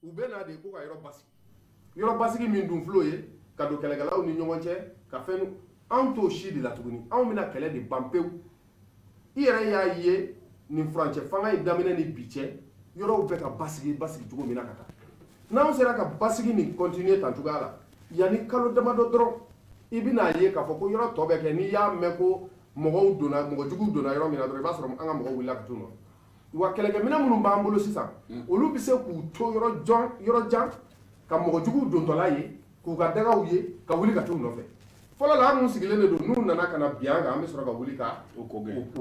u bɛ na de ko ka yɔrɔ basigi yɔrɔ basigi min dun fil'o ye ka don kɛlɛkɛlaw ni ɲɔgɔn cɛ ka fɛn anw t'o si de la tuguni anw bɛna kɛlɛ de ban pewu i yɛrɛ y'a ye nin furancɛfanga in daminɛ ni bi cɛ yɔrɔw bɛ ka basigi basigi cogo min na ka taa n'anw sera ka basigi nin continuer tan cogoya la yanni kalo damadɔ dɔrɔn i bɛn'a ye k'a fɔ ko yɔrɔ tɔ bɛ kɛ n'i y'a mɛn ko mɔgɔw donna mɔgɔ juguw donna yɔrɔ min na dɔrɔn i b'a sɔrɔ an ka mɔgɔw wulila ka t'u nɔ wa kɛlɛkɛminɛn minnu b'an bolo sisan hmm. olu bɛ se k'u to yɔrɔ jan yɔrɔ jan ka mɔgɔ juguw dontɔla ye k'u ka dagaw ye ka wuli ka t'u nɔfɛ fɔlɔ la an minnu sigilen de don n'u nana ka na bin an kan an bɛ sɔrɔ ka wuli ka u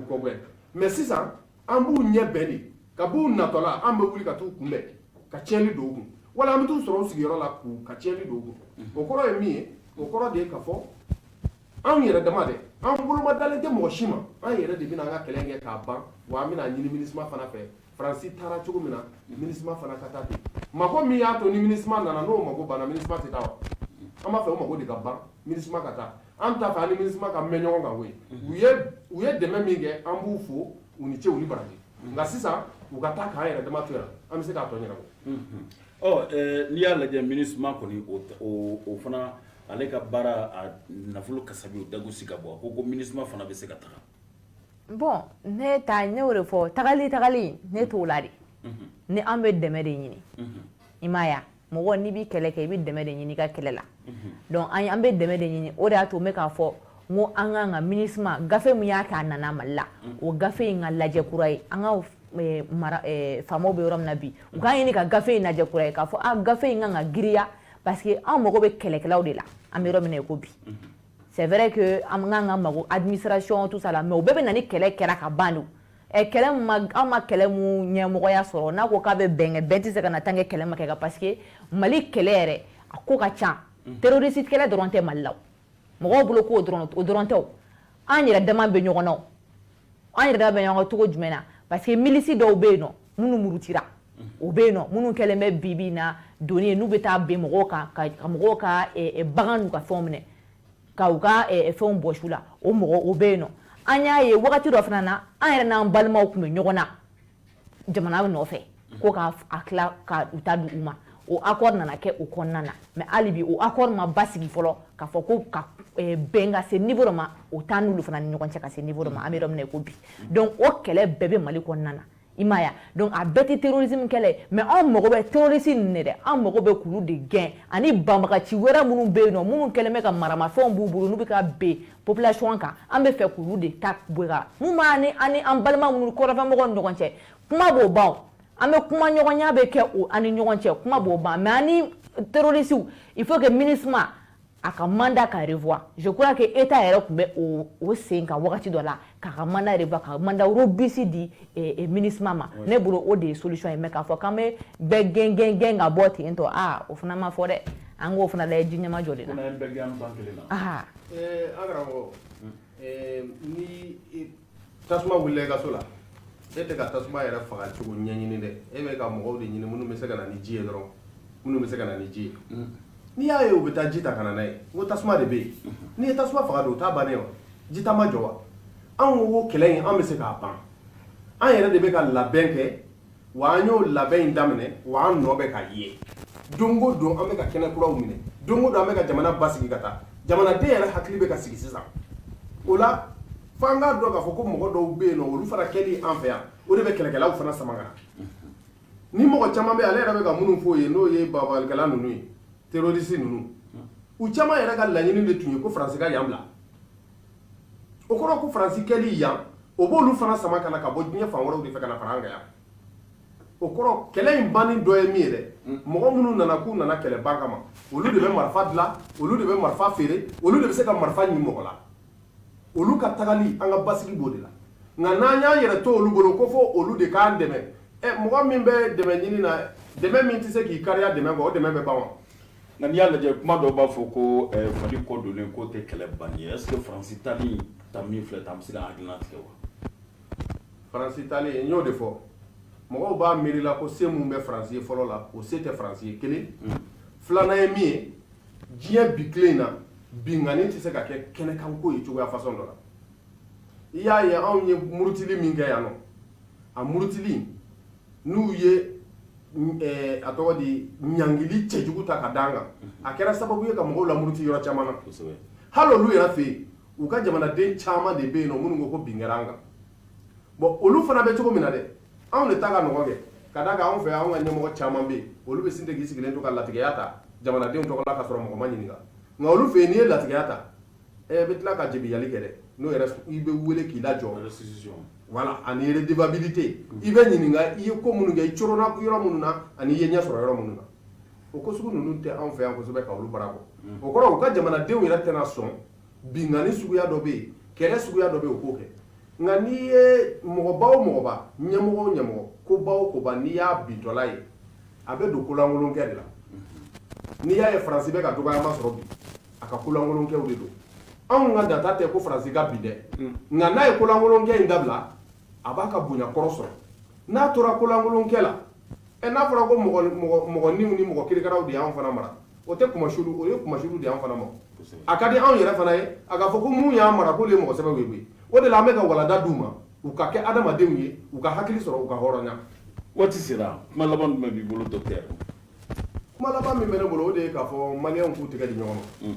kɔgɛn mais sisan an b'u ɲɛ bɛn de ka b'u natɔla an bɛ wuli ka t'u kunbɛn ka tiɲɛni don u kun wala an bɛ t'u sɔrɔ u sigiyɔrɔ la k'u ka tiɲɛni don u kun hmm. o kɔrɔ ye min ye o kɔrɔ de ye k'a fɔ anw yɛrɛ dama dɛ an boloma dalen tɛ mɔgɔ si ma an yɛrɛ de bɛna an ka kɛlɛ kɛ k'a ban wa an bɛna ɲini MINUSMA fana fɛ faransi taara cogo min na MINUSMA fana ka taa ten mako min y'a to ni MINUSMA nana n'o mako banna MINUSMA tɛ taa wa an b'a fɛ o mako de ka ban MINUSMA ka taa an t'a fɛ an ni MINUSMA ka mɛn ɲɔgɔn kan koyi u ye u ye dɛmɛ min kɛ an b'u fo u ni ce u ni baraji nka sisan u ka taa k'an yɛrɛ dama to yan an bɛ se k'a tɔ ɲɛnabɔ ɔ n'i y'a lajɛ MINUSMA kɔni o o fana Ale ka baara a nafolo kasabi dago sigi ka bɔ a ko ko MINUSMA fana bɛ se ka taga bon ne taa ne de fɔ tagali tagali ne t'o la de ni an bɛ dɛmɛ de ɲini i m'a ye mɔgɔ n'i bɛ kɛlɛ kɛ i bɛ dɛmɛ de ɲini i ka kɛlɛ la donc an an bɛ dɛmɛ de ɲini o de y'a to n bɛ k'a fɔ n ko an kan ka MINUSMA gafe min y'a k'a nana mali la o gafe in ka lajɛ kura ye an ka faamaw bɛ yɔrɔ min na bi u k'a ɲini ka gafe in lajɛ kura ye k'a fɔ gafe in kan ka giriya parce que an mago bɛ kɛlɛkɛlaw de la an bɛ yɔrɔ min na i ko bi c'est vrai que an kan ka mago administration tout ça la mais o bɛɛ bɛ na ni kɛlɛ kɛra ka ban de ɛ eh, kɛlɛ ma an ma kɛlɛ mun ɲɛmɔgɔya sɔrɔ n'a ko k'a bɛ bɛn kɛ bɛn tɛ se ka na tant que kɛlɛ ma kɛ ka parce que mali kɛlɛ yɛrɛ a ko ka ca terroriste kɛlɛ dɔrɔn tɛ mali la mɔgɔw bolo k'o dɔrɔn o dɔrɔn tɛ an yɛrɛ dama bɛ ɲɔgɔn na an yɛrɛ dama bɛ ɲɔgɔn cogo jumɛn na parce que milisi dɔw bɛ yen nɔ minnu murutira o bɛ yen nɔ minnu kɛlen bɛ bi bi na doni ye n'u bɛ taa bin mɔgɔw kan ka mɔgɔw ka bagan n'u ka fɛnw minɛ ka u ka fɛnw bɔsi u la o mɔgɔw bɛ yen nɔ an y'a ye wagati dɔ fana na an yɛrɛ n'an balimaw tun bɛ ɲɔgɔn na jamana nɔfɛ ko k'a a tila ka u ta di u ma o accord nana kɛ o kɔnɔna na mais hali bi o accord ma basigi fɔlɔ k'a fɔ ko ka eh, bɛn ka se niveau dɔ ma o t'an n'olu fana ni ɲɔgɔn cɛ ka se niveau dɔ ma an bɛ yɔrɔ min na i ko bi donc o kɛlɛ bɛɛ bɛ mali kɔnɔna na i m'a ye donc a bɛɛ tɛ terrorisme kɛlɛ ye mais anw mago bɛ terroriste ninnu de dɛ an mago bɛ k'olu de gɛn ani banbagaci wɛrɛ minnu bɛ yen nɔ minnu kɛlen bɛ ka maramafɛnw b'u bolo n'u bɛ ka bin population kan an b'a fɛ k'olu de ta bɔra mun b'an ni an ni an balima minnu kɔrɔnfɛmɔgɔw ni ɲɔgɔn cɛ kuma b'o ban an bɛ kumaɲɔgɔnya bɛ kɛ o an ni ɲɔgɔn cɛ kuma b'o ban mais an ni terrorisiw il faut que MINUSMA a ka mandat ka revoir je crois que état yɛrɛ tun bɛ o o sen kan wagati dɔ la k'a ka mandat revoir ka mandat robuste di eh, eh, MINUSMA ma oui. ne bolo o de ye solution ye mais k'a fɔ k'an bɛ bɛɛ gɛn gɛn gɛn ka bɔ ten tɔ aa o fana ma fɔ dɛ an k'o fana lajɛ ji ɲɛmajɔlen na Ɛɛ an karamɔgɔ ni tasuma wulila i ka so la e tɛ ka tasuma yɛrɛ faga cogo ɲɛɲini dɛ e bɛ ka mɔgɔw de ɲini minnu bɛ se ka na ni ji ye dɔrɔn minnu bɛ se ka na ni ji ye n'i y'a ye u bɛ taa ji ta ka na n'a ye ko tasuma de bɛ yen n'i ye tasuma faga don o t'a bannen wa ji ta ma jɔ wa anw ko kɛlɛ in an bɛ se k'a ban an yɛrɛ de bɛ ka labɛn kɛ wa an y'o labɛn in daminɛ wa an nɔ bɛ ka ye don o don an bɛ ka kɛnɛ kuraw minɛ don o don an bɛ ka jamana basigi ka taa jamanaden yɛrɛ hakili bɛ ka sigi sisan o la fo an k'a dɔn k'a fɔ ko mɔgɔ dɔw bɛ yen nɔ olu fana kɛli an fɛ yan o de bɛ kɛlɛkɛlaw fana sama ka na ni mɔgɔ caman bɛ ale yɛrɛ bɛ ka minnu fɔ ye n'o ye babalikɛla ninnu ye terroriste ninnu u caman yɛrɛ ka laɲini de tun ye ko faransi ka yan bila o kɔrɔ ko faransi kɛli yan o b'olu fana sama ka na ka bɔ diɲɛ fan wɛrɛw de fɛ ka na fara an kan yan o kɔrɔ kɛlɛ in banni dɔ ye min ye dɛ mɔgɔ minnu nana k'u nana kɛlɛ ban kama olu de bɛ marifa dilan olu de bɛ marifa feere olu de bɛ se ka marifa ɲini mɔgɔ la olu ka tagali an ka basigi b'o de la nka n'an y'an yɛrɛ to olu bolo ko fɔ olu de k'an dɛmɛ ɛ mɔgɔ min bɛ dɛmɛ ɲini na dɛmɛ min tɛ se k'i kariya dɛmɛ kɔ o dɛmɛ bɛ ban wa Nka n'i y'a lajɛ kuma dɔw b'a fɔ ko fali kɔ don k'o tɛ kɛlɛ ban ye est-ce que faransi taali ta min filɛ tan an bɛ se ka hakili latigɛ wa faransi taali n y'o de fɔ mɔgɔw b'a miiri la ko se min bɛ faransi ye fɔlɔ la o se tɛ faransi ye kelen filanan ye min ye diɲɛ bi tile in na binkanni tɛ se ka kɛ kɛnɛkanko ye cogoya fasɔn dɔ la i y'a ye anw ye murutili min kɛ yan nɔ a murutili n'u ye a tɔgɔ di ɲangili cɛjugu ta ka d'an kan a kɛra sababu ye ka mɔgɔw lamuruti yɔrɔ caman na hali olu yɛrɛ fɛ yen u ka jamanaden caman de bɛ yen nɔ minnu ko ko bin kɛra an kan bɔn olu fana bɛ cogo min na dɛ anw de ta ka nɔgɔ kɛ ka d'a kan anw fɛ anw ka ɲɛmɔgɔ caman bɛ yen olu bɛ sin ten k'i sigilen to ka latigɛya ta jamanadenw tɔgɔ la ka sɔrɔ mɔgɔ ma ɲininka nka olu fɛ yen n'i ye latigɛya ta ɛ bɛ tila ka jebiyali kɛ dɛ n'o yɛrɛ i bɛ wele k'i lajɔ voilà ani redevabilité i bɛ ɲininka i ye ko minnu kɛ i coronna yɔrɔ minnu na ani i ye ɲɛ sɔrɔ yɔrɔ minnu na o ko sugu ninnu tɛ anw fɛ yan kosɛbɛ ka olu bara bɔ o kɔrɔ u ka jamanadenw yɛrɛ tɛna sɔn binkanni suguya dɔ bɛ yen kɛlɛ suguya dɔ bɛ yen o k'o kɛ nka n'i ye mɔgɔba o mɔgɔba ɲɛmɔgɔ o ɲɛmɔgɔ koba o koba n'i y'a bintɔla ye a bɛ don kolankolonkɛ de la n'i y'a ye faransi bɛ ka dɔgɔyama sɔrɔ bi a ka kolankolonkɛw de don anw ka data tɛ ko faransi ka bin dɛ hmm. nka n'a ye kolankolonkɛ in dabila a b'a ka bonya kɔrɔ sɔrɔ n'a tora kolankolonkɛ la ɛ n'a fɔra ko mɔgɔninw ni mɔgɔ kirikaraw de y'an fana mara o tɛ kunmasuuli o ye kunmasuuli de y'an fana ma a ka di anw yɛrɛ fana ye a ka fɔ ko mun y'an mara k'olu ye mɔgɔ sɛbɛw ye koyi o de la an bɛ ka walanda d'u ma u ka kɛ adamadenw ye u ka hakili sɔrɔ u ka hɔrɔnya waati sera kuma laban jumɛn b'i bolo dɔkitɛri kuma laban min bɛ ne bolo o de ye k'a fɔ maliyɛnw k'u tɛgɛ di ɲɔgɔn ma mm.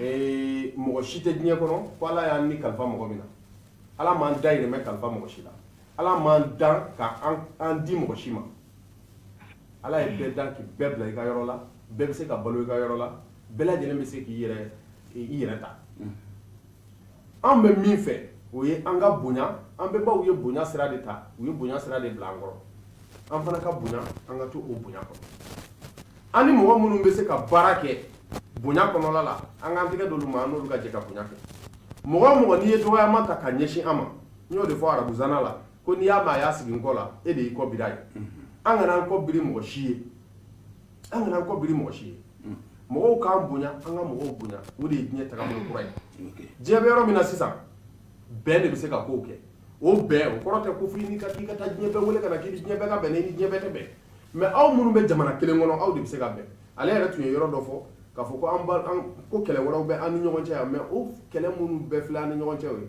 ee, mɔgɔ si tɛ diɲɛ kɔnɔ ko ala y'an ni kalifa mɔgɔ min na ala m'an dahirimɛ kalifa mɔgɔ si la ala m'an dan ka an di mɔgɔ si ma ala ye bɛɛ dan k'i bɛɛ bila i ka yɔrɔ la bɛɛ bɛ se ka balo i ka yɔrɔ la bɛɛ lajɛlen bɛ se k'i yɛrɛ ta mm. an bɛ min fɛ o ye an ka bonya an bɛnbaw ye bonya sira de ta u ye bonya sira de bila an kɔrɔ an fana ka bonya an ka to o bonya kɔnɔ an ni mɔgɔ minnu bɛ se ka baara kɛ bonya kɔnɔla la an k'an tɛgɛ d'olu ma an n'olu ka jɛ ka bonya kɛ mɔgɔ o mɔgɔ n'i ye dɔgɔyama ta ka ɲɛsin an ma n y'o de fɔ arabuzana la ko n'i y'a mɛn a y'a sigi n kɔ la e de y'i kɔ biri a ye an kana an kɔ biri mɔgɔ si ye an kana an kɔ biri mɔgɔ si ye mɔgɔw k'an bonya an ka mɔgɔw bonya o de ye diɲɛ tagabolo kura ye diɲɛ bɛ yɔrɔ min na sisan bɛn de bɛ se ka kow kɛ o bɛn o kɔrɔ tɛ ko fo n'i ka k'i ka taa diɲɛ bɛɛ wele ka na k'i ni diɲɛ bɛɛ ka bɛn ni diɲɛ bɛɛ tɛ bɛn mais aw minnu bɛ jamana kelen kɔnɔ aw de bɛ se ka bɛn ale yɛrɛ tun ye yɔrɔ dɔ fɔ k'a fɔ ko an ko kɛlɛ wɛrɛw bɛ an ni ɲɔgɔn cɛ yan mais o kɛlɛ minnu bɛɛ filɛ an ni ɲɔgɔn cɛ o ye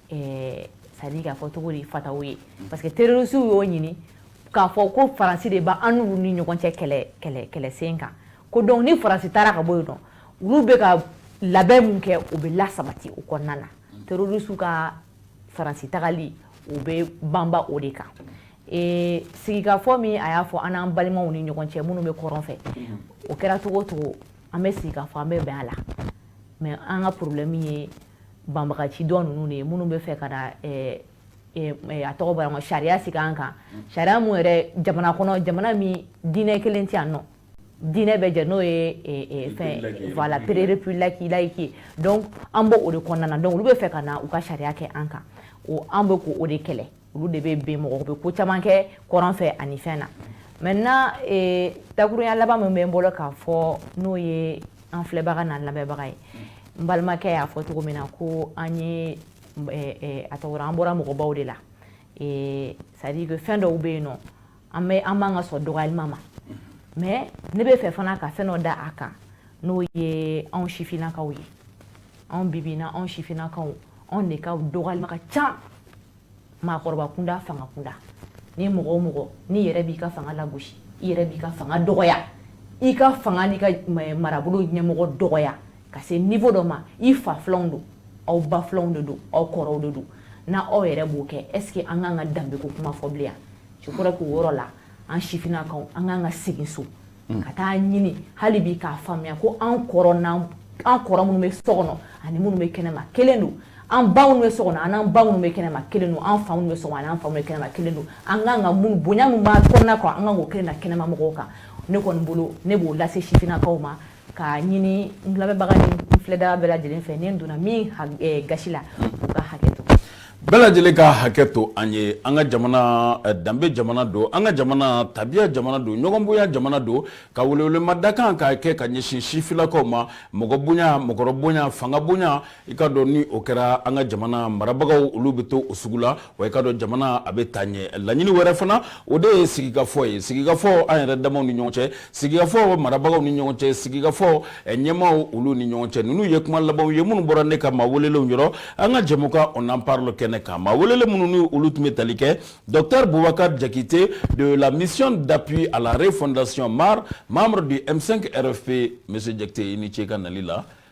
ɛɛ c'est à dire k'a fɔ cogo di fataw ye parce que terroristes y'o ɲini k'a fɔ ko faransi de bɛ an n'u ni ɲɔgɔn cɛ kɛlɛ kɛlɛ kɛlɛsen kan ko donc ni faransi taara ka bɔ yen nɔ olu bɛ ka labɛn min kɛ o bɛ lasabati o kɔnɔna na terroristes ka faransi tagali u bɛ banba o de kan ee sigikafɔ min a y'a fɔ an n'an balimaw ni ɲɔgɔn cɛ minnu bɛ kɔrɔn fɛ o kɛra cogo o cogo an bɛ sigikafɔ an bɛ bɛn a la mais an ka problème ye banbagaci dɔ ninnu de ye minnu bɛ fɛ ka na eh, eh, eh, a tɔgɔ bɔra sariya sigi an kan sariya mun yɛrɛ jamana kɔnɔ jamana min diinɛ kelen tɛ yan nɔ diinɛ bɛ jɛ n'o ye fɛn voilà république laïque ye donc an bɛ o de kɔnɔna na donc olu bɛ fɛ ka na u ka sariya kɛ an kan o an bɛ k'o de kɛlɛ olu de bɛ bɛn mɔgɔ bɛ ko caman kɛ kɔrɔn fɛ ani fɛn na maintenant eh, dakurunya laban min bɛ n bolo k'a fɔ n'o ye an filɛbaga n'an lamɛnbaga ye n balimakɛ y'a fɔ cogo min na ko an ye eh, eh, a tɔgɔ an bɔra mɔgɔbaw de la c'est à dire que fɛn dɔw bɛ yen nɔ an bɛ an man kan ka sɔn dɔgɔyalima ma mais ne bɛ fɛ fana ka fɛn dɔ da a kan n'o ye anw sifinnakaw ye anw bi bi na anw sifinnakaw anw de ka dɔgɔyalima ka ca maakɔrɔba kunda fanga kunda ni mɔgɔ o mɔgɔ n'i yɛrɛ b'i ka fanga lagosi i yɛrɛ b'i ka fanga dɔgɔya i ka fanga n'i ka marabolo ɲɛmɔgɔ dɔgɔya ka se niveau dɔ ma i fa filanw don aw ba filanw de don aw kɔrɔw de don n' aw yɛrɛ b'o kɛ est ce que an kan ka danbe ko kuma fɔ bilen je crois que o yɔrɔ la an sifinnakaw an kan ka segin so ka taa ɲini hali bi k'a faamuya ko an kɔrɔ an kɔrɔ minnu bɛ so kɔnɔ ani minnu bɛ kɛnɛma kelen don an baw bɛ so kɔnɔ an baw bɛ kɛnɛma kelen don an fa bɛ so an fa bɛ kɛnɛma kelen don an kan ka mun bonya min b'a kɔnɔna kan an kan k'o kelen na kɛnɛma mɔgɔw kan ne kɔni bolo ne b'o lase sifinnakaw ma k'a ɲini n lamɛnbaga ni n filɛbaga bɛɛ lajɛlen fɛ ni n donna min gasi la u ka hakɛ to bɛɛ lajɛlen ka hakɛ to an ye an ka jamana eh, danbe jamana don an ka jamana tabiya jamana don ɲɔgɔnbonya jamana don ka welewelema dakan k'a kɛ ka ɲɛsin sifinnakaw ma mɔgɔ bonya mɔgɔkɔrɔ bonya fanga bonya i k'a dɔn ni o kɛra an ka jamana marabagaw olu bɛ to o sugu la wa i k'a dɔn jamana a bɛ taa ɲɛ laɲini wɛrɛ fana o de ye sigikafɔ ye sigikafɔ an yɛrɛ damaw ni ɲɔgɔn cɛ sigikafɔ marabagaw ni ɲɔgɔn cɛ sigikafɔ eh, ɲɛmaaw olu ni ɲɔgɔn cɛ ninnu ye kuma labanw ye minnu bɔra ne ka maa welelenw yɔrɔ an ka jɛmukan on en parle kɛnɛ kan maa welelen minnu ni olu tun bɛ tali kɛ docteur bubakar jakite de la mission d'appui à la refondation mar membre du m5 rfp monsieur jakite i ni ce i ka nali la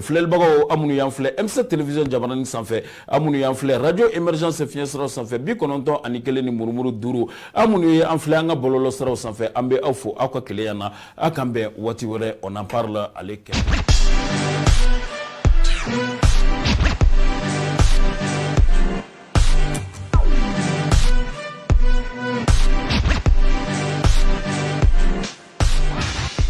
filɛlibagaw aw minnu y'an filɛ M7 télévision jabaranin sanfɛ aw minnu y'an filɛ radio émergence fiɲɛ siraw sanfɛ bi kɔnɔntɔn ani kelen ni murumuru duuru aw minnu ye an filɛ an ka bɔlɔlɔ siraw sanfɛ an bɛ aw fo aw ka kelenya na aw k'an bɛn waati wɛrɛ on en parle ale kɛ